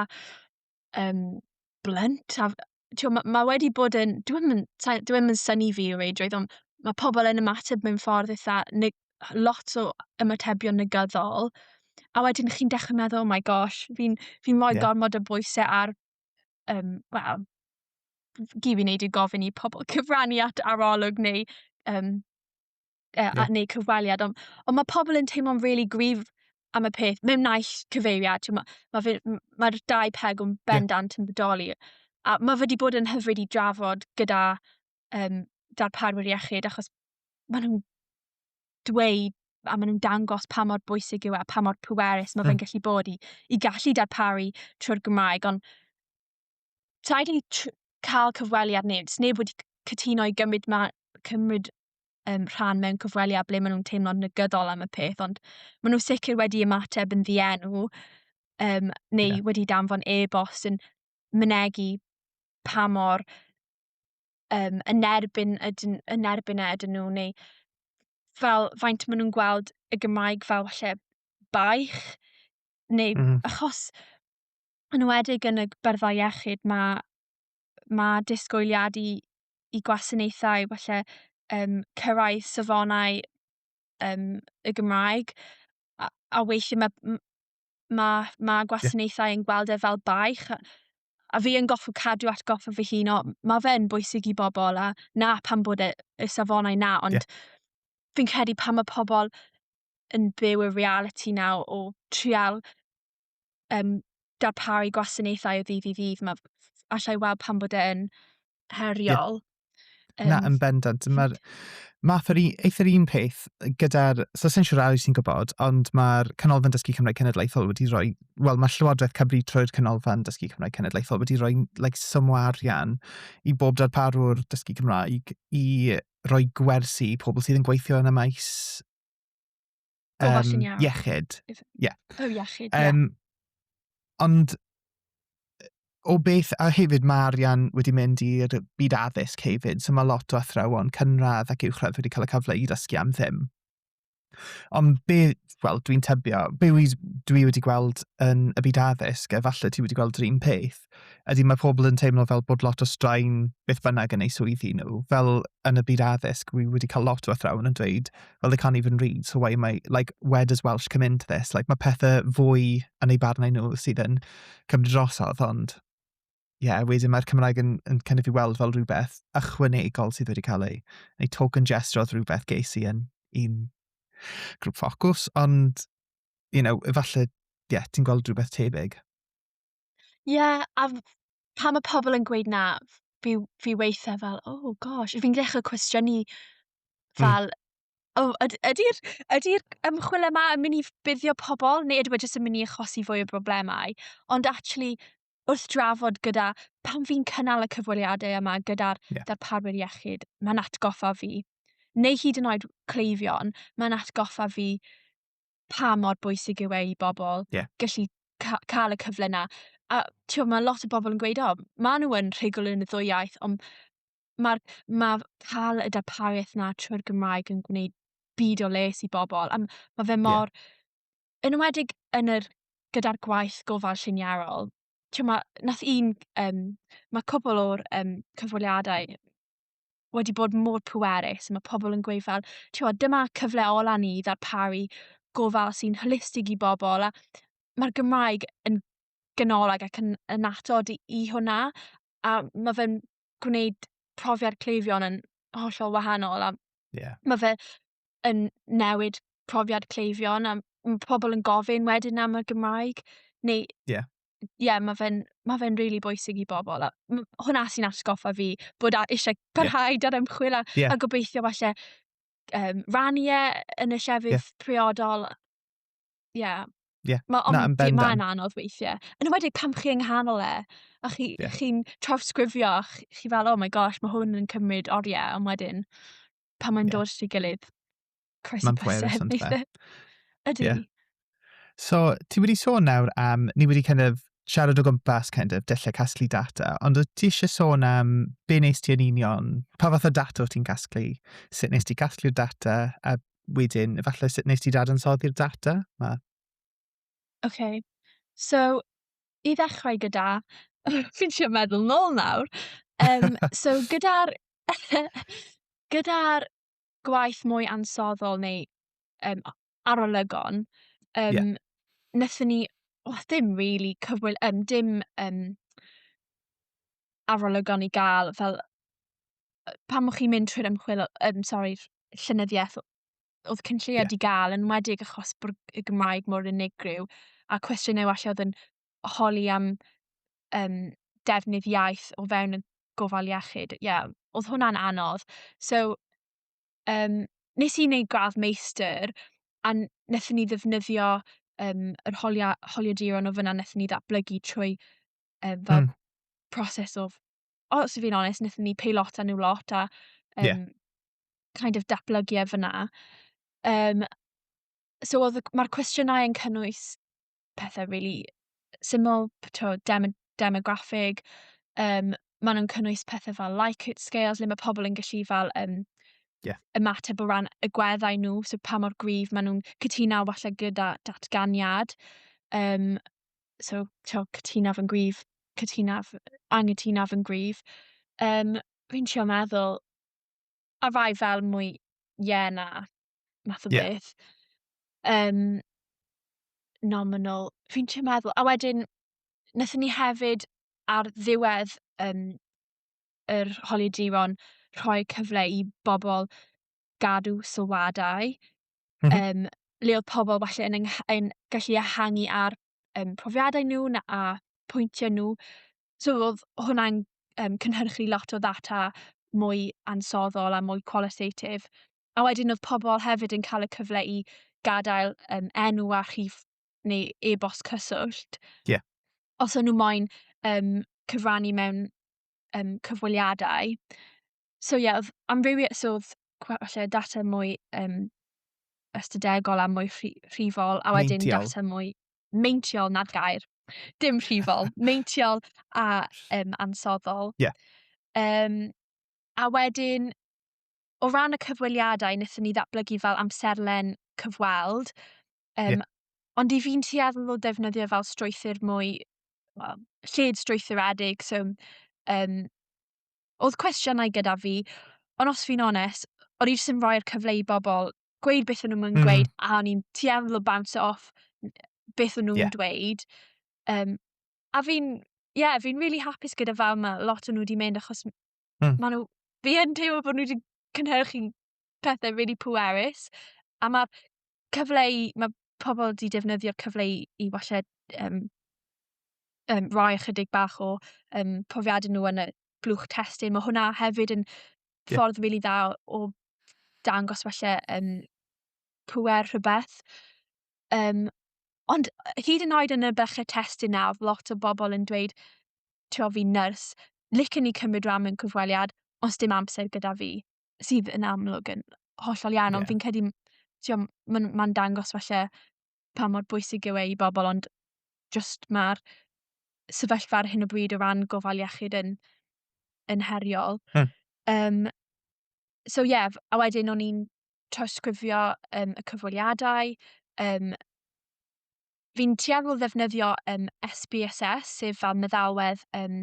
um, blunt. A, tio, mae, ma wedi bod yn... Dwi'n mynd, dwi yn syni fi o reidrwydd, ond mae pobl yn ymateb mewn ffordd eitha... Ne, lot o ymatebion negyddol. A wedyn chi'n dechrau meddwl, oh my gosh, fi'n fi, fi rhoi yeah. gormod o bwysau ar... Um, Wel, gyd fi'n neud i gofyn i pobl cyfrannu at arolwg neu um, uh, yeah. neu cyfweliad, ond, ond mae pobl yn teimlo'n rili really grif am y peth, mewn naill cyfeiriad, mae'r ma, ma, ma dau peg o'n bendant yeah. yn bodoli. A mae wedi bod yn hyfryd i drafod gyda um, darparwyr iechyd, achos maen nhw'n dweud a maen nhw'n dangos pa mor bwysig yw e, pa mor pwerus mae fe'n hmm. gallu bod i, i gallu darparu trwy'r Gymraeg, ond rhaid i cael cyfweliad neu neb wedi cytuno i gymryd, ma, cymryd um, rhan mewn cyfweliad ble maen nhw'n teimlo'n negyddol am y peth, ond maen nhw sicr wedi ymateb yn ddienw um, neu yeah. wedi danfon e-bost yn mynegu pa mor um, yn erbyn ydyn, yn erbyn e ydyn nhw neu fel faint maen nhw'n gweld y Gymraeg fel falle baich neu mm. achos yn enwedig yn y byrddau iechyd mae mae disgwyliad i i gwasanaethau falle yym cyrraedd safonau yym y Gymraeg a a weithie ma' m- ma' ma' gwasanaethau yn gweld e fel baich a a fi yn goffod cadw atgoffa fy hun o ma' fe'n bwysig i bobl a 'na pam bod e y safonau 'na ond fi'n credu pan ma' pobl yn byw y realiti 'na o o trial um, darparu gwasanaethau o ddydd i ddydd. Mae allai weld pan bod e'n heriol. Yeah. Um, Na, yn bendant. Mae'r math yr eithr un peth gyda'r... So, sy'n siŵr arall sy'n gwybod, ond mae'r Canolfan Dysgu Cymraeg Cenedlaethol wedi rhoi... Wel, mae Llywodraeth Cymru trwy'r Canolfan Dysgu Cymraeg Cenedlaethol wedi rhoi like, swm o arian i bob darparwr dysgu Cymraeg i roi gwersi i pobl sydd yn gweithio yn y maes Gofal um, lluniau. Iechyd. Ie. Yeah. Oh, iechyd, ie. Um, Ond o beth, a hefyd mae arian wedi mynd i'r byd addysg hefyd, so mae lot o athrawon cynradd ac uwchradd wedi cael y cyfle i ddysgu am ddim. Ond be, wel, dwi'n tybio, be dwi wedi gweld yn y byd addysg, efallai ti wedi gweld yr un peth, ydy mae pobl yn teimlo fel bod lot o straen beth bynnag yn eu swyddi nhw. Fel yn y byd addysg, wi wedi cael lot o athrawon yn dweud, well, they can't even read, so why am I, like, where does Welsh come into this? Like, mae pethau fwy yn eu barnau nhw sydd yn cymryd drosodd, ond ie, yeah, wedyn mae'r Cymraeg yn, yn cynnig i weld fel rhywbeth ychwanegol sydd wedi cael ei, ei token gesture oedd rhywbeth ges i yn un grŵp ffocws, ond, you know, efallai, ie, yeah, ti'n gweld rhywbeth tebyg. Ie, a f- pan mae pobl yn gweud na, fi fi weithiau fel, "Oh gosh." Fi'n dechrau cwestiynu fel, "O yd- ydi'r ydi'r ymchwil yma yn mynd i ffyddio pobl, neu yw e jyst yn mynd i achosi fwy o broblemau?" Ond acshyli, wrth drafod gyda... pan fi'n cynnal y cyfweliadau yma gyda'r... Ie. ...darparwyr iechyd, mae'n atgoffa fi, neu hyd yn oed cleifion, mae'n atgoffa fi pa mor bwysig yw e i bobl yeah. gallu ca cael y cyfle na. A ti'n mae lot o bobl yn gweud, o, maen nhw yn rhugl yn y ddwy iaith, ond mae ma cael y darpariaeth na trwy'r Gymraeg yn gwneud byd o les i bobl. A mae fe mor... Yeah. Yn ymwedig yn yr, gyda'r gwaith gofal lliniarol, ti'n ma, nath un, um, mae cwbl o'r um, cyfweliadau wedi bod mor pwerus. Mae pobl yn gweud fel, ti'n dyma cyfle ola ni i ddarparu gofal sy'n holistig i bobl. A mae'r Gymraeg yn ganolig ac yn, yn atod i, i hwnna. A mae fe'n gwneud profiad cleifion yn hollol wahanol. A yeah. mae fe yn newid profiad cleifion a mae pobl yn gofyn wedyn am y Gymraeg. Neu yeah. ie, yeah, mae fe'n ma fe really bwysig i bobl. A hwnna sy'n atgoffa fi bod eisiau parhau yeah. ar ymchwil a, yeah. a gobeithio falle um, rannu e yn y llefydd yeah. priodol. Ie. Yeah. Yeah. Mae on, Na, ma anodd weithiau. Yn ymwedig pam chi yng nghanol e, a chi, yeah. chi'n trawsgrifio, chi, chi fel, oh my gosh, mae hwn yn cymryd oriau, ond wedyn, pan mae'n yeah. dod at ei gilydd. Croes mae'n pwerus ond fe. Ydy. Yeah. So, ti wedi sôn nawr am, ni wedi kind of siarad o gwmpas kind of dyllau casglu data, ond wyt ti eisiau sôn am be nes ti yn union, pa fath o data wyt ti'n casglu, sut nes ti casglu'r data, a wedyn efallai sut nes ti dadansoddi'r data? Mae Oce, so i ddechrau gyda fi'n trio meddwl nôl nawr. Um, so gyda'r gyda'r gwaith mwy ansoddol neu um, arolygon, um, yeah. nethon ni, oh, ddim really cyfwyl, um, dim um, arolygon i gael fel pan mwch chi'n mynd trwy'r ymchwil, um, sorry, llynyddiaeth oedd cynlluniau yeah. di gael, yn wedig achos bod y Gymraeg mor unigryw, a cwestiynau allu oedd yn holi am um, defnydd iaith o fewn y gofal iechyd. Ie, yeah, oedd hwnna'n anodd. So, um, nes i wneud gradd meistr, a wnaethon ni ddefnyddio um, yr holia, holiaduron o fyna wnaethon ni ddatblygu trwy um, fel mm. proses o os i fi'n onest, wnaethon ni peilot a nhw lot a um, yeah. kind of datblygiau fyna. Um, so mae'r cwestiynau yn cynnwys pethau really syml, to, dem demograffig, um, maen nhw'n cynnwys pethau fel Likert scales, le mae pobl yn gallu fel um, yeah. ymateb o ran y gweddau nhw, so pa mor gryf maen nhw'n cytuno falle gyda datganiad. Um, so t'o' cytunaf yn gryf cytunaf angytunaf yn gryf yym fi'n trio meddwl a rai fel mwy ie na math o yeah. beth. Um, nominal. Fi'n trio meddwl. A wedyn, nethon ni hefyd ar ddiwedd um, yr holiaduron rhoi cyfle i bobl gadw sylwadau mm -hmm. um, le oedd pobl falle yn, yn gallu ehangu ar um, profiadau nhw na a pwyntiau nhw. So oedd hwnna'n um, cynhyrchu lot o ddata mwy ansoddol a mwy qualitative. A wedyn oedd pobl hefyd yn cael y cyfle i gadael um, enw a rhif neu e-bost cyswllt. Yeah. Os o'n nhw moyn um, cyfrannu mewn um, cyfweliadau. so ie, oedd amrywiaeth, so oedd falle data mwy um, ystadegol a mwy rhifol, a wedyn meintiol. data mwy meintiol nad gair. Dim rhifol, meintiol a um, ansoddol. Yeah. Um, a wedyn, o ran y cyfweliadau, wnaethon ni ddatblygu fel amserlen cyfweld, um, yeah. ond i fi'n tueddol o defnyddio fel strwythyr mwy, well, lled strwythuredig, so um, Oedd cwestiynau gyda fi, ond os fi'n onest, o'n i jyst yn rhoi'r cyfle i bobl gweud beth o'n nhw'n mynd mm. gweud, a o'n i'n tueddol o bounce off beth o'n nhw'n yeah. dweud. Um, a fi'n, ie, yeah, fi'n really hapus gyda fel mae lot o'n nhw wedi mynd, achos mm. maen nhw, fi yn teimlo bod nhw wedi cynhyrchu pethau rili really pwerus a mae cyfle i, mae pobl wedi defnyddio cyfle i, i falle um, um, rhoi ychydig bach o um, profiadau nhw yn y blwch testyn. Mae hwnna hefyd yn yeah. ffordd rili really dda o dangos falle um, pwer rhywbeth. Um, ond hyd yn oed yn y bychau testyn na, oedd lot o bobl yn dweud, tio fi nyrs, licen ni cymryd rhan mewn cyfweliad, os dim amser gyda fi. sydd yn amlwg yn hollol iawn, ond yeah. fi'n credu, ti'n mae'n ma dangos falle pa mor bwysig yw e i bobl, ond just mae'r sefyllfa ar hyn o bryd o ran gofal iechyd yn, yn heriol. Hmm. Um, so ie, yeah, a wedyn o'n i'n trawsgrifio um, y cyfweliadau, um, fi'n tueddol ddefnyddio um, SBSS, sef fel meddalwedd um,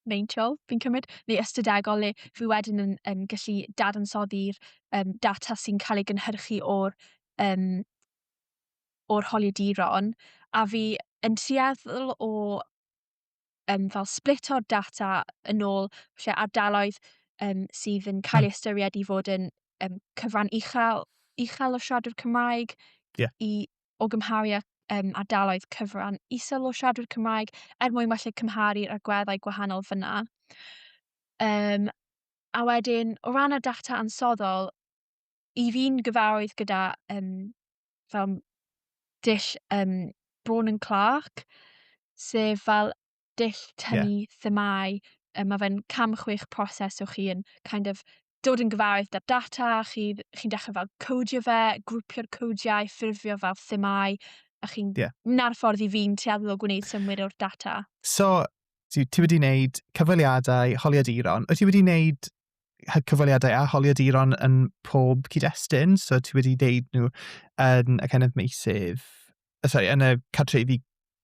meintiol, fi'n cymryd, neu ystadegol le fi wedyn yn, yn gallu dadansoddi'r um, data sy'n cael ei gynhyrchu o'r, um, o'r holiaduron, a fi yn tueddol o um, fel split o'r data yn ôl lle ardaloedd um, sydd yn cael ei ystyried i fod yn um, cyfran uchel, uchel o siaradwr Cymraeg yeah. i o gymharu â um, ardaloedd cyfran isel o siadwyr Cymraeg er mwyn felly cymharu'r agweddau gwahanol fyna. Um, a wedyn, o ran y data ansoddol, i fi'n gyfarwydd gyda um, fel dull um, Braun and Clark, sef fel dull tynnu yeah. themau. Um, mae fe'n cam chwech proses o chi yn kind of dod yn gyfarwydd da data, chi'n chi dechrau fel codio fe, grwpio'r codiau, ffurfio fel themau, a chi'n... Yeah. Na'r ffordd i fi'n tueddol o gwneud symwyr o'r data. So, ti, ti wedi wneud cyfweliadau, holiaduron. Wyt ti wedi wneud cyfweliadau a holiaduron yn pob cyd-destun? So, ti wedi wneud nhw yn y kind of meisydd sorry, yn y cartrefi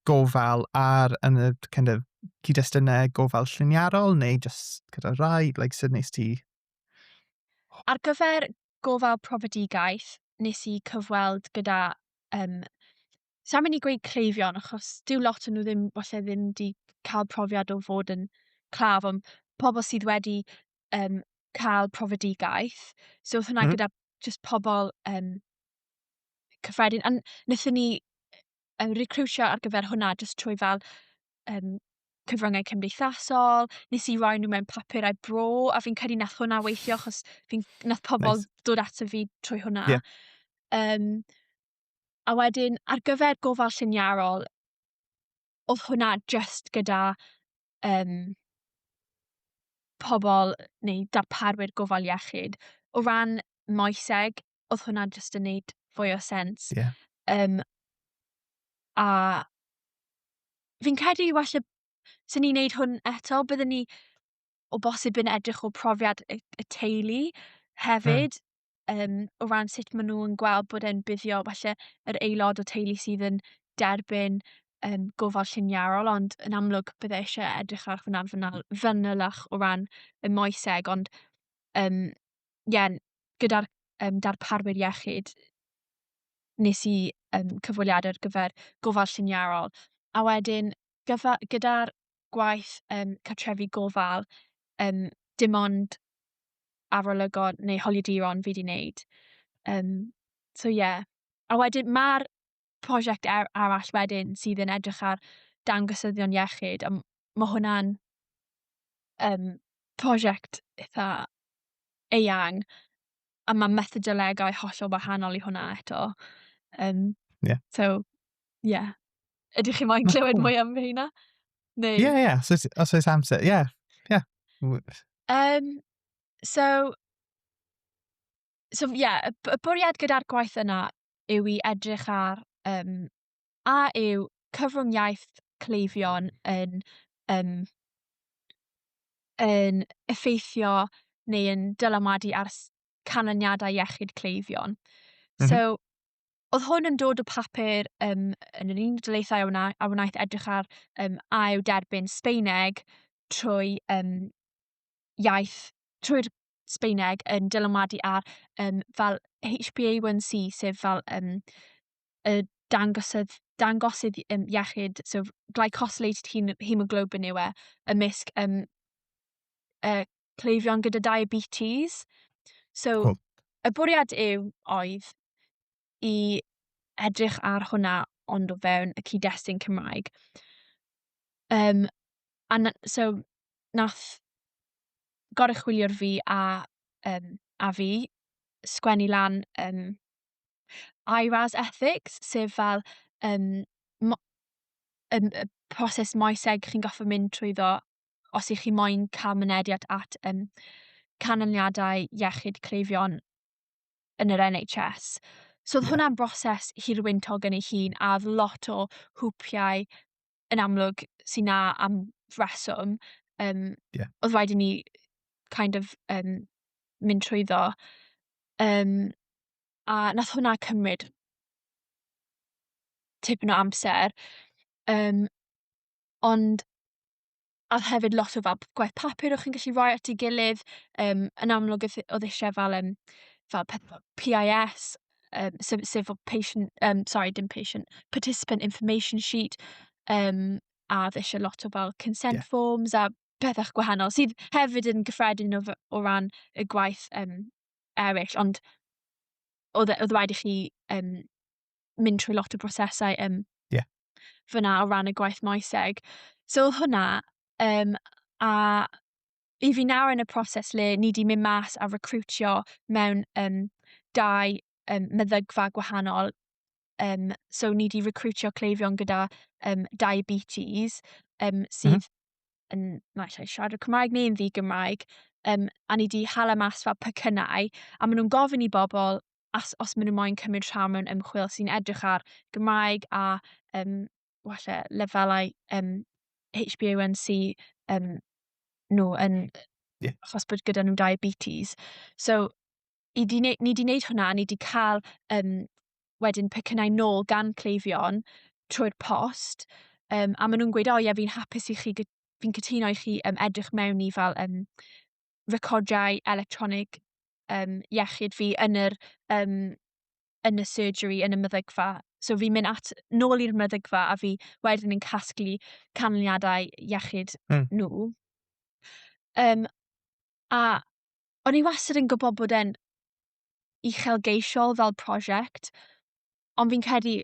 gofal a'r yn y kind of cyd-destunau gofal lliniarol neu just gyda rai, like sut nes ti? Ar gyfer gofal profedigaeth, nes i cyfweld gyda um, Sa'n mynd i gweud cleifion, achos dyw lot yn nhw ddim, falle ddim di cael profiad o fod yn claf, ond pobl sydd wedi um, cael profedigaeth. So, oedd hwnna mm. gyda just pobl um, cyffredin. A wnaethon ni um, recriwtio ar gyfer hwnna jyst trwy fel um, cyfryngau cymdeithasol, nes i roi nhw mewn papurau bro, a fi'n credu nath hwnna weithio, achos fi'n nath pobl nice. dod ato fi trwy hwnna. Yeah. Um, a wedyn, ar gyfer gofal lliniarol, oedd hwnna just gyda um, pobl neu darparwyr gofal iechyd. O ran moeseg, oedd hwnna jyst yn neud fwy o sens. Yeah. Um, a fi'n credu falle sy'n ni'n neud hwn eto, byddwn ni o bosib yn edrych o profiad y, y teulu hefyd, mm. um, o ran sut maen nhw'n gweld bod e'n buddio falle yr aelod o teulu sydd yn derbyn um, gofal lliniarol, ond yn amlwg byddai eisiau edrych ar hwnna'n fanylach o ran y moeseg, ond um, ie, gyda'r um, darparwyr iechyd, nes i um, cyfweliad ar gyfer gofal lliniarol. A wedyn, gyda'r gwaith um, cartrefi gofal, um, dim ond arolygon neu holiaduron fi wedi wneud. Um, so ie. Yeah. A wedyn mae'r prosiect ar, arall wedyn sydd yn edrych ar dangosyddion iechyd, a mae hwnna'n um, prosiect eitha eang, a mae methodolegau hollol wahanol i hwnna eto. Um, yeah. So, yeah. Ydych chi moyn clywed mwy am hynna? Neu... Yeah, yeah, so, os oes amser, yeah, yeah. Um, so, so yeah, y bwriad gyda'r gwaith yna yw i edrych ar um, a yw cyfrwng-iaith cleifion yn um, yn effeithio neu yn dylanwadu ar canlyniadau iechyd cleifion. Mm -hmm. So, oedd hwn yn dod o papur um, yn yr Unol Daleithiau a, a wnaeth edrych ar um, a yw derbyn Sbeineg trwy um, iaith, trwy'r Sbeineg yn dylanwadu ar um, fel HbA1c, sef fel um, y dangosydd, dangosydd um, iechyd, so glycosylated hemoglobin yw e, ymysg um, uh, cleifion gyda diabetes. So, cool. y bwriad yw oedd i edrych ar hwnna ond o fewn y cyd-destun Cymraeg. Um, a na, so, nath goruchwyliwr fi a, um, a fi sgwennu lan um, IRAS Ethics, sef fel um, mo- um, y proses moeseg chi'n goffa mynd trwy ddo os ych chi moyn cael mynediad at um, canlyniadau iechyd cleifion yn yr NHS. So oedd hwnna'n broses hirwyntog yn ei hun a oedd lot o hwpiau yn amlwg sy'n na am reswm. Um, yeah. Oedd rhaid i ni kind of um, mynd trwy ddo. Um, a nath hwnna cymryd tipyn o amser. Um, ond a oedd hefyd lot o fel p- gwaith papur o'ch chi'n gallu rhoi at ei gilydd yym yn amlwg oedd oedd eisiau fel yym fel peth PIS yym sef sef fel patient yym sori dim patient participant information sheet yym a oedd eisiau lot o fel consent Ie. forms a pethau gwahanol sydd hefyd yn gyffredin o, f- o ran y gwaith yym eraill ond oedd e- oedd rhaid i chi yym mynd trwy lot o brosesau um, yeah. fyna o ran y gwaith moeseg. So oedd hwnna, um, a i fi nawr yn y proses le ni wedi mynd mas a recrwtio mewn um, dau um, meddygfa gwahanol. Um, so ni wedi recrwtio cleifion gyda um, diabetes um, sydd mm -hmm. yn, na allai siarad y Cymraeg neu'n ddi Gymraeg, um, a ni wedi hala mas fel pecynnau, a maen nhw'n gofyn i bobl as, os maen nhw moyn cymryd rhan mewn ymchwil sy'n edrych ar Gymraeg a um, walle lefelau um, HbA1c um, nhw yn... Yeah. Achos bod gyda nhw diabetes. So, i di neud, ni wedi gwneud hwnna, ni wedi cael um, wedyn pecynnau nôl gan cleifion trwy'r post, um, a maen nhw'n gweud, o ie, fi'n hapus i chi, fi'n cytuno i chi um, edrych mewn i fel um, recordiau electronig um, iechyd fi yn yr, um, yn y surgery, yn y meddygfa. So fi'n mynd at, nôl i'r meddygfa a fi wedyn yn casglu canlyniadau iechyd mm. nhw. Um, a o'n i wastad yn gwybod bod e'n uchelgeisiol fel prosiect, ond fi'n credu,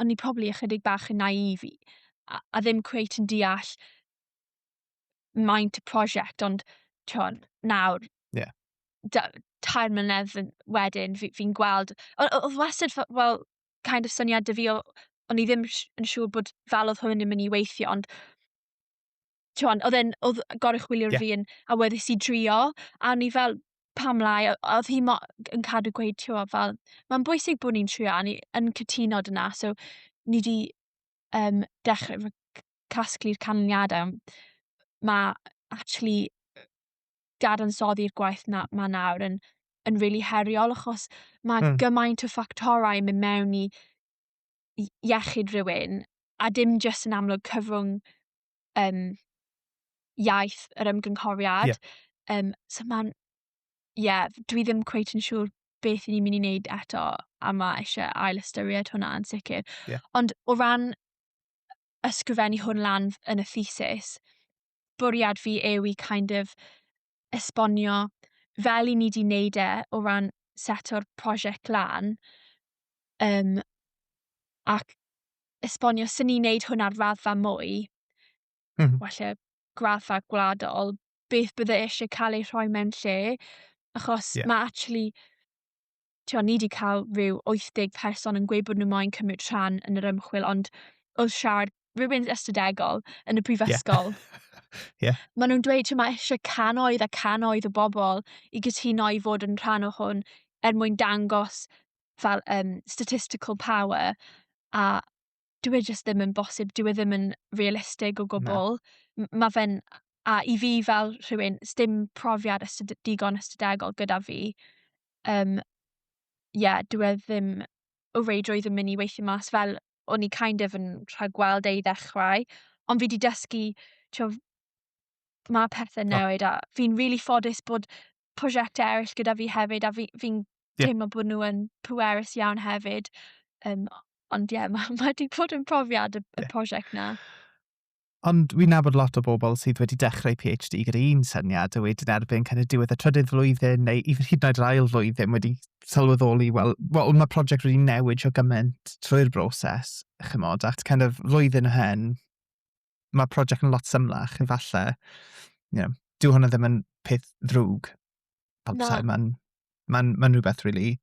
o'n i probably ychydig bach yn naive i, a, a ddim cweit yn deall maint y prosiect, ond ti'n nawr, yeah. da, tair mlynedd wedyn, fi'n fi gweld, oedd wastad, wel, kind of syniad dy fi, o'n i ddim yn siŵr bod fel oedd hwn yn mynd i weithio, ond ti'n oedd e'n, oedd goruchwilio'r yeah. fi yn awyddus i drio, a ni fel, pam lai, oedd hi mo, yn cadw gweud, ti'n fel, mae'n bwysig bod ni'n trio, a ni yn cytuno dyna, so ni di um, dechrau casglu'r canlyniadau. Mae actually dadansoddi'r gwaith na, ma nawr yn, yn really heriol achos mae mm. gymaint o ffactorau yn mynd mewn i iechyd rhywun a dim jyst yn amlwg cyfrwng um, iaith yr ymgynghoriad. Yeah. Um, so mae'n ie, yeah, dwi ddim cweit yn siŵr beth i ni'n mynd i wneud eto a mae eisiau ail ystyried hwnna yn sicr. Yeah. Ond o ran ysgrifennu hwn lan yn y thesis, bwriad fi yw i kind of esbonio fel i ni di wneud e o ran set o'r prosiect lan um, ac esbonio sy'n ni'n wneud hwn ar raddfa mwy, mm. well graddfa gwladol, beth bydde eisiau cael ei rhoi mewn lle, achos yeah. mae actually, ti'n ni wedi cael rhyw 80 person yn gweud bod nhw moyn cymryd rhan yn yr ymchwil, ond wrth siarad rhywun ystadegol yn y prifysgol, yeah. yeah. maen nhw'n dweud ti'n mae eisiau canoedd a canoedd o bobl i gytuno i fod yn rhan o hwn er mwyn dangos fel um, statistical power a dwi e just ddim yn bosib, dwi e ddim yn realistig o gwbl. Mae fe'n, a i fi fel rhywun, dim profiad ystod, digon ystodegol gyda fi, um, yeah, dwi e ddim o reidrwydd yn mynd i weithio mas fel o'n i kind of yn rhagweld ei ddechrau, ond fi wedi dysgu, tio, mae pethau newid a fi'n really ffodus bod prosiectau eraill gyda fi hefyd a fi'n fi, fi yeah. teimlo bod nhw yn pwerus iawn hefyd. Um, ond ie, yeah, mae ma wedi bod yn profiad y, y yeah. prosiect na. Ond wy'n nabod lot o bobl sydd wedi dechrau PhD gyda un syniad a wedyn erbyn kind of diwedd y trydydd flwyddyn neu i hyd yn oed yr ail flwyddyn wedi sylweddoli, wel, well, mae prosiect wedi newid o gymaint trwy'r broses, chymod, at kind of flwyddyn o hen, mae prosiect yn lot symlach, efallai. You know, dyw hwnna ddim yn peth ddrwg. Pamsau, mae'n ma ma rhywbeth rili really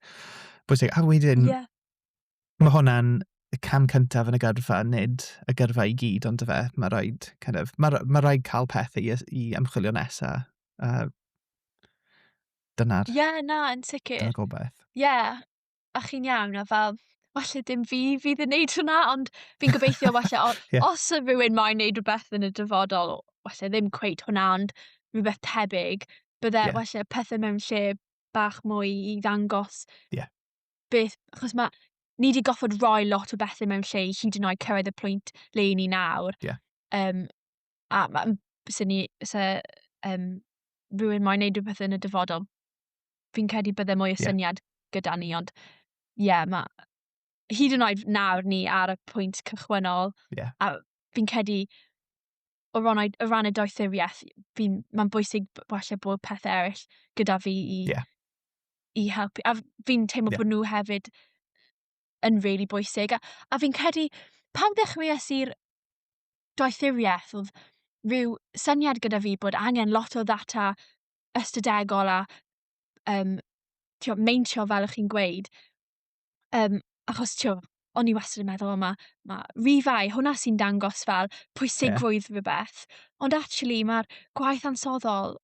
bwysig. A wedyn, yeah. mae hwnna'n y cam cyntaf yn y gyrfa, nid y gyrfa i gyd, ond y fe, mae rhaid, kind of, mae, mae rhaid cael pethau i, i ymchwilio nesaf. Uh, dyna'r... Ie, yeah, na, yn sicr. Dyna'r gobaith. Ie, yeah. a chi'n iawn, a fel, falle dim fi fydd yn neud hwnna, ond fi'n gobeithio falle, o, yeah. os y rhywun mae'n neud rhywbeth yn y dyfodol, falle ddim cweith hwnna, ond rhywbeth tebyg, bydde yeah. falle pethau mewn lle bach mwy i ddangos yeah. beth, achos mae, ni wedi goffod roi lot o bethau mewn lle i hyd yn oed cyrraedd y pwynt le i ni nawr. Yeah. Um, a ma- m- se ni se yym rywun moyn neud rhywbeth yn y dyfodol fi'n credu bydde mwy o Ie. syniad gyda ni ond ie yeah, ma' hyd yn oed nawr ni ar y pwynt cychwynnol Ie. a fi'n credu o ran, y- o ran y doethuriaeth fi'n mae'n bwysig b- falle bod pethau eraill gyda fi i Ie. i helpu a f- fi'n teimlo Ie. bod nhw hefyd yn really bwysig a, a fi'n credu pan ddechreuais i'r doethuriaeth, oedd rhyw syniad gyda fi bod angen lot o ddata ystadegol a um, tio, meintio fel ych chi'n gweud. Um, achos tio, o'n i wastad yn meddwl, yma, mae ma rifau, hwnna sy'n dangos fel pwysigrwydd yeah. rhywbeth. Ond actually, mae'r gwaith ansoddol,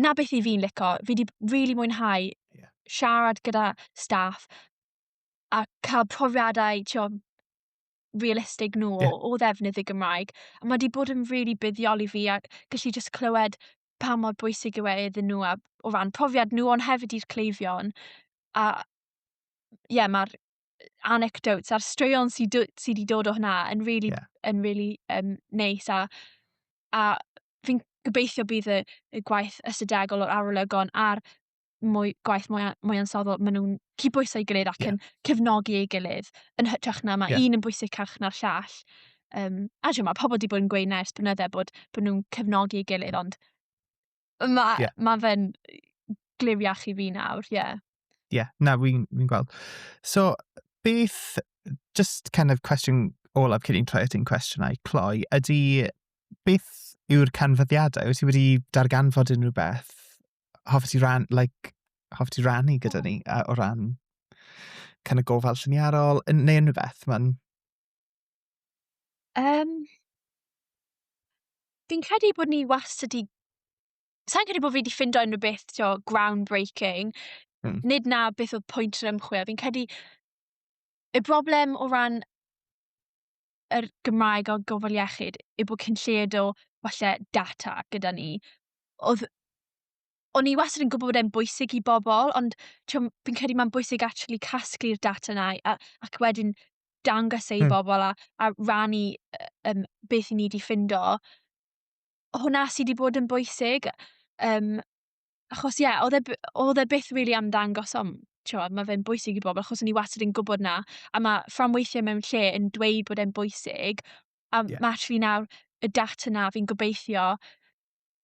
na beth i fi'n lico, fi wedi really mwynhau yeah. siarad gyda staff a cael profiadau, tio, realistig nhw yeah. o, o ddefnydd y Gymraeg. A mae wedi bod yn rili really buddiol i fi a gallu just clywed pa mor bwysig yw e iddyn nhw a, o ran profiad nhw ond hefyd i'r cleifion. A ie, yeah, mae'r anecdotes a'r straeon sydd wedi sy dod o hynna yn really, yeah. yn really um, neis a, a fi'n gobeithio bydd y, y gwaith ystadegol o'r arolygon a'r mwy, gwaith mwy, mwy ansoddol, maen nhw'n cydbwyso'i gilydd ac yeah. yn cefnogi ei gilydd, yn hytrach na mae yeah. un yn bwysicach na'r llall. Um, a dwi'n mae pobl wedi bod yn gweud nes blynydde bod, bod nhw'n cefnogi ei gilydd, ond mae yeah. ma fe'n gliwiach i fi nawr, ie. Yeah. Ie, yeah, na, fi'n fi gweld. So, beth, just kind of question olaf cyn i'n troi at ein cwestiynau, Cloi, ydy beth yw'r canfyddiadau? Wyt ti wedi darganfod unrhyw beth hoffet ti ran, like, hoffet ti rannu gyda ni a, o ran kind of gofal lliniarol neu unrhyw beth? Mae'n... Um, fi'n credu bod ni wastad i... Sa'n credu bod fi wedi ffindo unrhyw beth tio, groundbreaking. Mm. Nid na beth oedd pwynt yr ymchwil. Fi'n credu y broblem o ran yr Gymraeg a gofal iechyd yw bod cyn lled o falle data gyda ni. Oedd o'n i wastad yn gwybod bod e'n bwysig i bobl, ond fi'n credu mae'n bwysig actually casglu'r data na a, ac wedyn dangos ei hmm. bobl a, a rannu um, beth i ni wedi ffindo. Hwna sydd wedi bod yn bwysig. Um, achos ie, yeah, oedd e, oedd e byth really am ddangos am, tiwod, mae fe'n bwysig i bobl, achos o'n i wastad yn gwybod na, a mae fframweithiau mewn lle yn dweud bod e'n bwysig, a yeah. mae actually nawr y data na fi'n gobeithio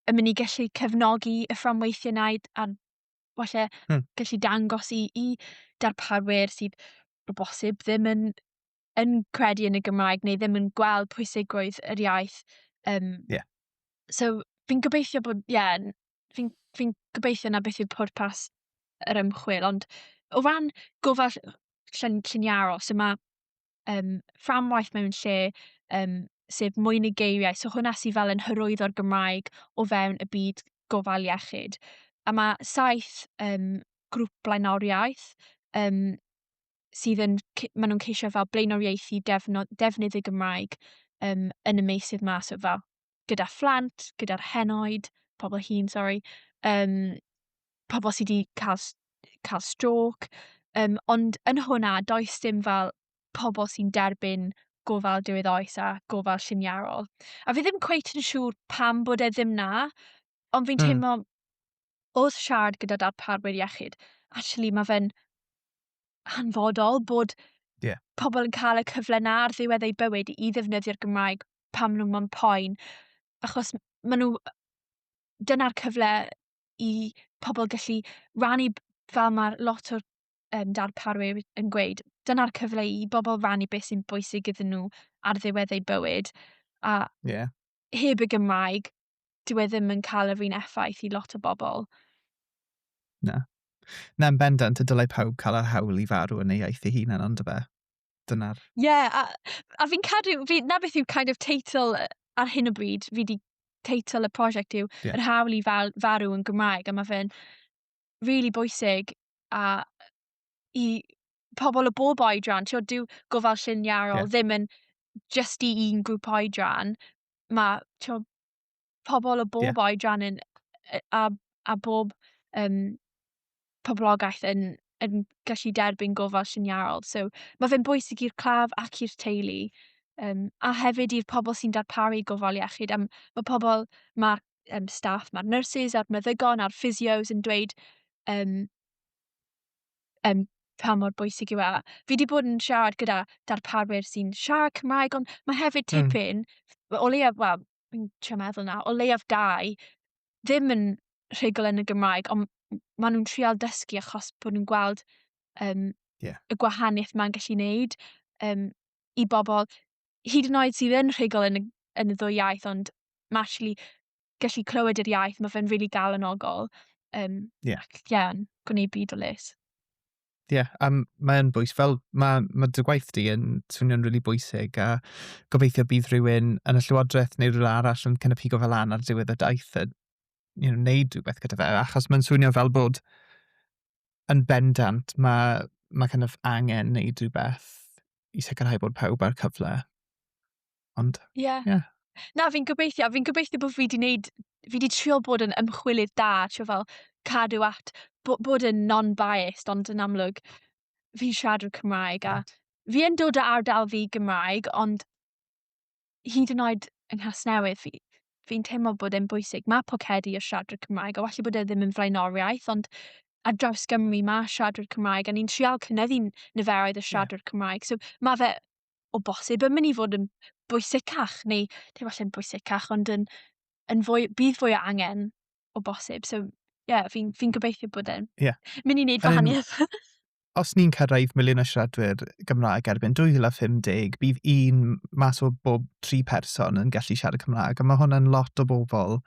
yn mynd i gallu cefnogi y fframweithiau na a falle hmm. gallu dangos i, i darparwyr sydd o bosib ddim yn yn credu yn y Gymraeg neu ddim yn gweld pwysigrwydd yr iaith. Um, yeah. So, fi'n gobeithio bod, ie, yeah, fi'n fi gobeithio na beth yw pwrpas yr ymchwil, ond o ran gofal llun, lluniarol, so mae um, fframwaith mewn lle, um, sef mwy neu geiriau, so hwnna sydd fel yn hyrwyddo'r Gymraeg o fewn y byd gofal iechyd. A mae saith um, grŵp blaenoriaeth um, sydd yn, maen nhw'n ceisio fel blaenoriaethu defnydd, defnydd y Gymraeg um, yn y meysydd ma, so fel gyda phlant, gyda'r henoed, pobl hun, sorry, um, pobl sydd wedi cael, cael stroke, um, ond yn hwnna, does dim fel pobl sy'n derbyn gofal diwedd oes a gofal lliniarol. A fi ddim cweit yn siŵr pam bod e ddim na, ond fi'n hmm. teimlo wrth siarad gyda darparwyr iechyd, actually mae fe'n hanfodol bod yeah. pobl yn cael y cyfle na ar ddiwedd eu bywyd i ddefnyddio'r Gymraeg pam nhw'n mwyn poen. Achos maen nhw... Dyna'r cyfle i pobl gallu rannu fel mae lot o'r um, darparwyr yn gweud. Dyna'r cyfle i bobl rannu beth sy'n bwysig iddyn nhw ar ddiwedd eu bywyd. A yeah. heb y Gymraeg, dyw e ddim yn cael yr un effaith i lot o bobl. Na. Na, yn bendant, y dylai pawb cael yr hawl i farw yn ei iaith ei hunan, ond y fe. Dyna'r... Ie, yeah, a, a fi'n cadw, fi, na beth yw kind of teitl ar hyn o bryd, fi di teitl y prosiect yw yeah. yr hawl i fal, farw yn Gymraeg, a mae fe'n really bwysig a i pobl o bob oedran, ti'n dyw gofal lliniarol yeah. ddim yn just i un grŵp oedran, mae tio, pobl o bob yeah. oedran yn, a, a bob um, poblogaeth yn, yn gallu derbyn gofal lliniarol. So, mae fe'n bwysig i'r claf ac i'r teulu, um, a hefyd i'r pobl sy'n darparu gofal iechyd. Am, mae pobl, mae um, staff, mae'r nurses a'r meddygon a'r physios yn dweud um, um, pa mor bwysig yw e. Fi wedi bod yn siarad gyda darparwyr sy'n siarad Cymraeg, ond mae hefyd hmm. tipyn, mm. o leiaf, wel, fi'n trio meddwl na, o leiaf dau, ddim yn rhugl yn y Gymraeg, ond maen nhw'n trial dysgu achos bod nhw'n gweld um, yeah. y gwahaniaeth mae'n gallu wneud um, i bobl, hyd yn oed sydd yn rhugl yn y, yn y ddwy iaith, ond mae actually gallu clywed yr iaith, mae fe'n really galonogol. Um, yeah. Ac, yeah, gwneud byd o les. Ie, yeah, a mae'n bwys, fel mae ma dy gwaith di yn swnio'n rili really bwysig a gobeithio bydd rhywun yn y llywodraeth neu rhywun arall yn kind of higo fel lan ar diwedd y daith a you know, neud rhywbeth gyda fe, achos mae'n swnio fel bod yn bendant mae ma kind of angen neud rhywbeth i sicrhau bod pawb ar cyfle. Ond, ie. Yeah. Yeah. Na, fi'n gobeithio, fi'n gobeithio bod fi wedi wneud, fi wedi trio bod yn ymchwilydd da, trio fel cadw at, bod, bod yn non-biased, ond yn amlwg, fi siarad o'r Cymraeg, a fi yn dod o ardal fi Gymraeg, ond hyd yn oed yng Nghasnewydd, fi, fi'n teimlo bod e'n bwysig. Mae pocedi o siaradwyr Cymraeg, a falle bod e ddim yn flaenoriaeth, ond ar draws Gymru mae siaradwyr Cymraeg, a ni'n trial cynyddu niferoedd y siaradwyr yeah. Cymraeg. So mae fe o bosib yn mynd i fod yn bwysicach neu dim allan yn bwysicach ond yn, yn fwy, bydd fwy o angen o bosib. So, ie, yeah, fi'n fi gobeithio bod e'n yeah. mynd i wneud fahaniaeth. os ni'n cyrraedd miliwn o siaradwyr Gymraeg erbyn 2050, bydd un mas o bob tri person yn gallu siarad Cymraeg. A mae hwnna'n lot o bobl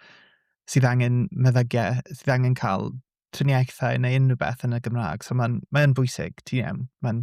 sydd angen meddygiau, sydd angen cael triniaethau neu unrhyw beth yn y Gymraeg. So mae'n mae bwysig, ti'n iawn. Mae'n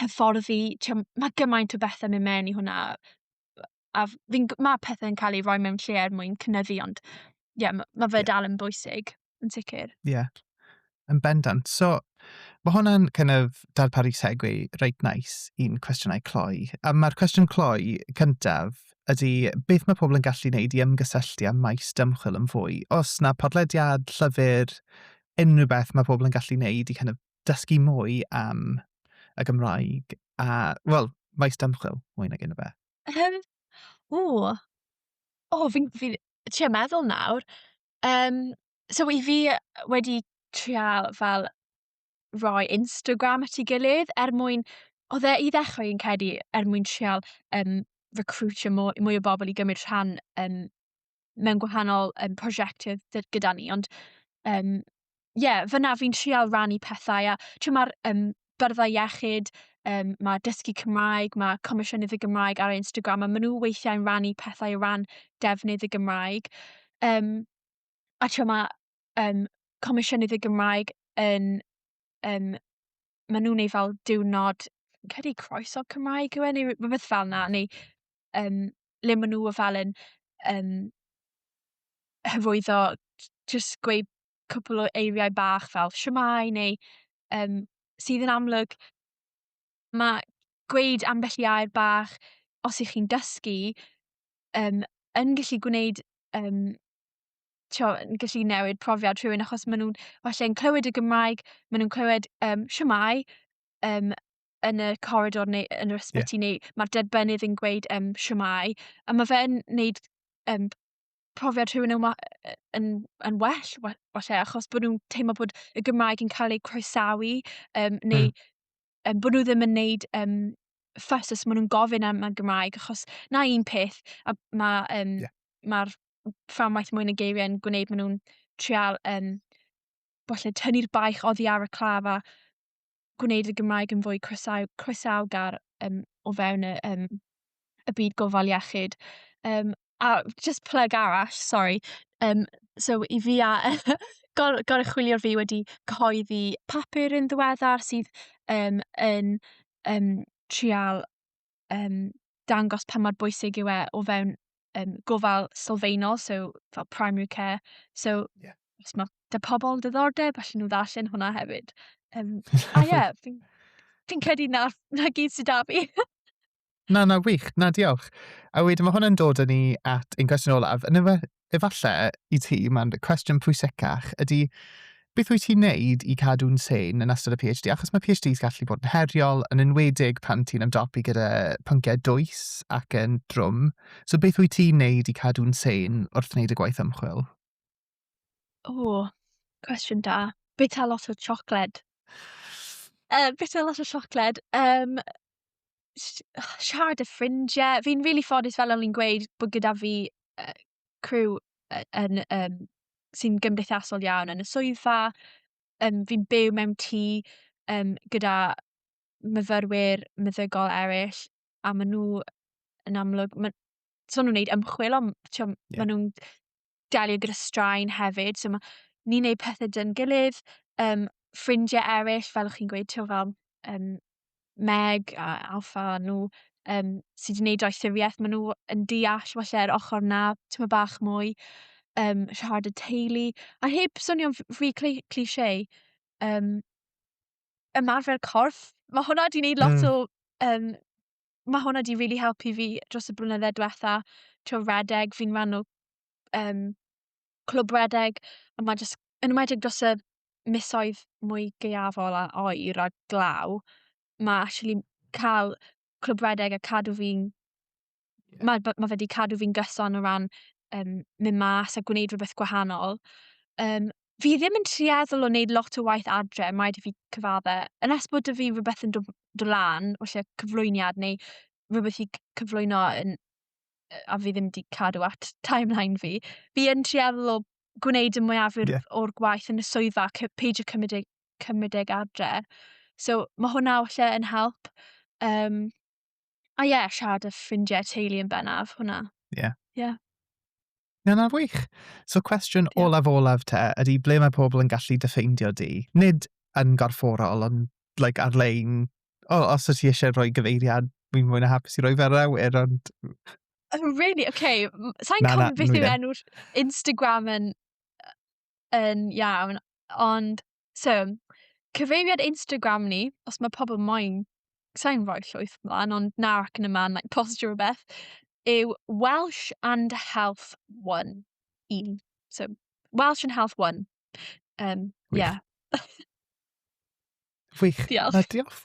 hyfforddi, ti'n gwbod, ma' gymaint o bethe'n myn' mewn i hwnna a f- fi'n g- ma' pethe'n ca'l eu rhoi mewn lle er mwyn cynyddu ond ie m- ma' fe dal yn bwysig yn sicir. Ie. Yn bendant. So ma' hwnna'n kind of darparu segue reit neis i'n cwestiynau cloi. A ma'r cwestiwn cloi cyntaf ydy beth mae pobl yn gallu wneud i ymgysylltu â maes dymchwel yn fwy? Oes 'na podlediad, llyfr, unrhyw beth mae pobl yn gallu wneud i kind of dysgu mwy am y Gymraeg a, wel, maes dymchwil mwy nag un o beth? Um, o, o, fi'n fi, trio meddwl nawr. Um, so i fi wedi trial fel roi Instagram at ei gilydd er mwyn... Oedd e i ddechrau yn cedi er mwyn trial um, recruitio mwy, mwy o bobl i gymryd rhan um, mewn gwahanol um, prosiectau gyda ni, ond um, yeah, fyna fi'n trial rannu pethau, a ti'n mae'r um, byrddau iechyd, um, mae dysgu Cymraeg, mae Comisiynydd y Gymraeg ar Instagram, a maen nhw weithiau'n rannu pethau o ran defnydd y Gymraeg. Um, a ti'n mae um, Comisiynydd y Gymraeg yn, um, maen nhw'n ei fel diwrnod, credu croeso Cymraeg yw e, neu rhywbeth fel yna, neu um, le maen nhw fel yn um, hyfwyddo, just gweud cwpl o eiriau bach fel siamai neu um, sydd yn amlwg mae gweud ambell i air bach os ych chi'n dysgu um, yn gallu gwneud um, tio, yn gallu newid profiad rhywun achos maen nhw'n falle yn clywed y Gymraeg, maen nhw'n clywed um, siamai um, yn y corridor neu yn yr ysbyty yeah. neu mae'r derbynydd yn gweud um, siamau a mae fe'n neud um, profiad rhywun yn, yn, yn well falle achos bod nhw'n teimlo bod y Gymraeg yn cael ei croesawu um, neu mm. um, bod nhw ddim yn neud um, ffas os maen nhw'n gofyn am y Gymraeg achos na un peth a mae um, yeah. mae'r fframwaith mwyn y geiriau yn gwneud maen nhw'n trial um, falle tynnu'r baich oddi ar y claf a gwneud y Gymraeg yn fwy croesaw, croesawgar um, o fewn y, um, y byd gofal iechyd. Um, a just plug arall, sorry, um, so i fi a gor, gorchwilio'r fi wedi cyhoeddi papur yn ddiweddar sydd um, yn um, trial um, dangos pa mor bwysig yw e o fewn um, gofal sylfaenol, so fel primary care. So, yeah. os mae dy pobl diddordeb, allan nhw ddarllen hwnna hefyd. Um, a ie, yeah, fi'n fi credu na, na gyd sydd da fi. na, na, wych. Na, diolch. A wedyn mae hwnna'n dod yn ni at ein cwestiwn olaf. Yn, Efallai i ti, mae'r cwestiwn pwysicach ydy beth wyt ti'n wneud i cadw'n sane yn ystod y PhD? Achos mae PhDs gallu bod yn heriol, yn enwedig pan ti'n ymdopi gyda pynciau dwys ac yn drwm. So beth wyt ti'n wneud i cadw'n sane wrth wneud y gwaith ymchwil? O, cwestiwn da. Bita lot o siocled. Uh, bita lot o siocled. Um, siarad â ffrindiau. Fi'n rili ffodus fel o'n i'n gweud bod gyda fi yy criw yy yn yym sy'n gymdeithasol iawn yn y swyddfa. Yym fi'n byw mewn tŷ yym gyda myfyrwyr meddygol eraill a maen nhw yn amlwg ma' so nhw'n wneud ymchwil ond t'w'o'... Ie. ...ma' nhw'n delio gyda straen hefyd, so mae ni'n gwneud pethau dyn gilydd, um, ffrindiau eraill, fel chi'n gweud, ti'n fel um, Meg a Alfa nhw, um, sydd wedi gwneud doethuriaeth, maen nhw yn deall falle'r ochr na, ti'n bach mwy, um, rhad y teulu, a heb swnio'n rhy cliché, um, ymarfer corff, mae hwnna wedi gwneud lot mm. o um, mae hwnna wedi rili helpu fi dros y blynydde diwetha. Tibod redeg, fi'n rhan o yym clwb redeg a mae jyst yn enwedig dros y misoedd mwy gaeafol a oer a glaw mae actually cael clwb redeg a cadw fi'n... Ie. ...mae b- mae fe wedi cadw fi'n gyson o ran yym mynd mas a gwneud rhywbeth gwahanol. Yym fi ddim yn tueddol o wneud lot o waith adre, mae rhaid i fi cyfadde. Yn nes bod 'da fi rhywbeth yn dod dod lan, falle cyflwyniad neu rhywbeth i cyflwyno yn a fi ddim wedi cadw at timeline fi, fi yn tueddol o gwneud y mwyafrif yeah. o'r gwaith yn y swyddfa, peidio cymryd e, cymryd e adre. So mae hwnna falle yn help. Um, A ie, siarad y ffrindiau teulu yn bennaf, hwnna. Ie. Yeah. Ie. Yeah. Na, na, wych. So cwestiwn yeah. olaf olaf te ydy ble mae pobl yn gallu dyffeindio di? Nid yn gorfforol, ond like, ar-lein. O, os ydych chi eisiau rhoi gyfeiriad, mi'n mwyn a hapus i roi fer awyr, ond... Oh, really? Okay. Sa'n cofio beth yw enw'r Instagram yn, yn iawn, ond So, cyfeiriad Instagram ni, os mae pobl moyn, sa'n rhoi llwyth mlaen, ond na ac yn y man, like, postio rhywbeth, yw Welsh and Health One. Un. So, Welsh and Health One. Um, yeah. Wych. Diolch. Na, diolch.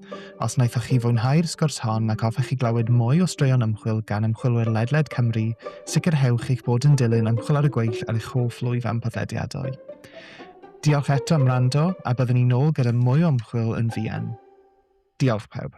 Os wnaethoch chi fwynhau'r sgwrs hon ac hoffech chi glywed mwy o straeon ymchwil gan ymchwilwyr ledled Cymru, sicrhewch eich bod yn dilyn Ymchwil ar y Gweill ar eich hoff lwyfan podlediadau. Diolch eto am wrando, a byddwn ni'n ôl gyda mwy o ymchwil yn fuan. Diolch pawb.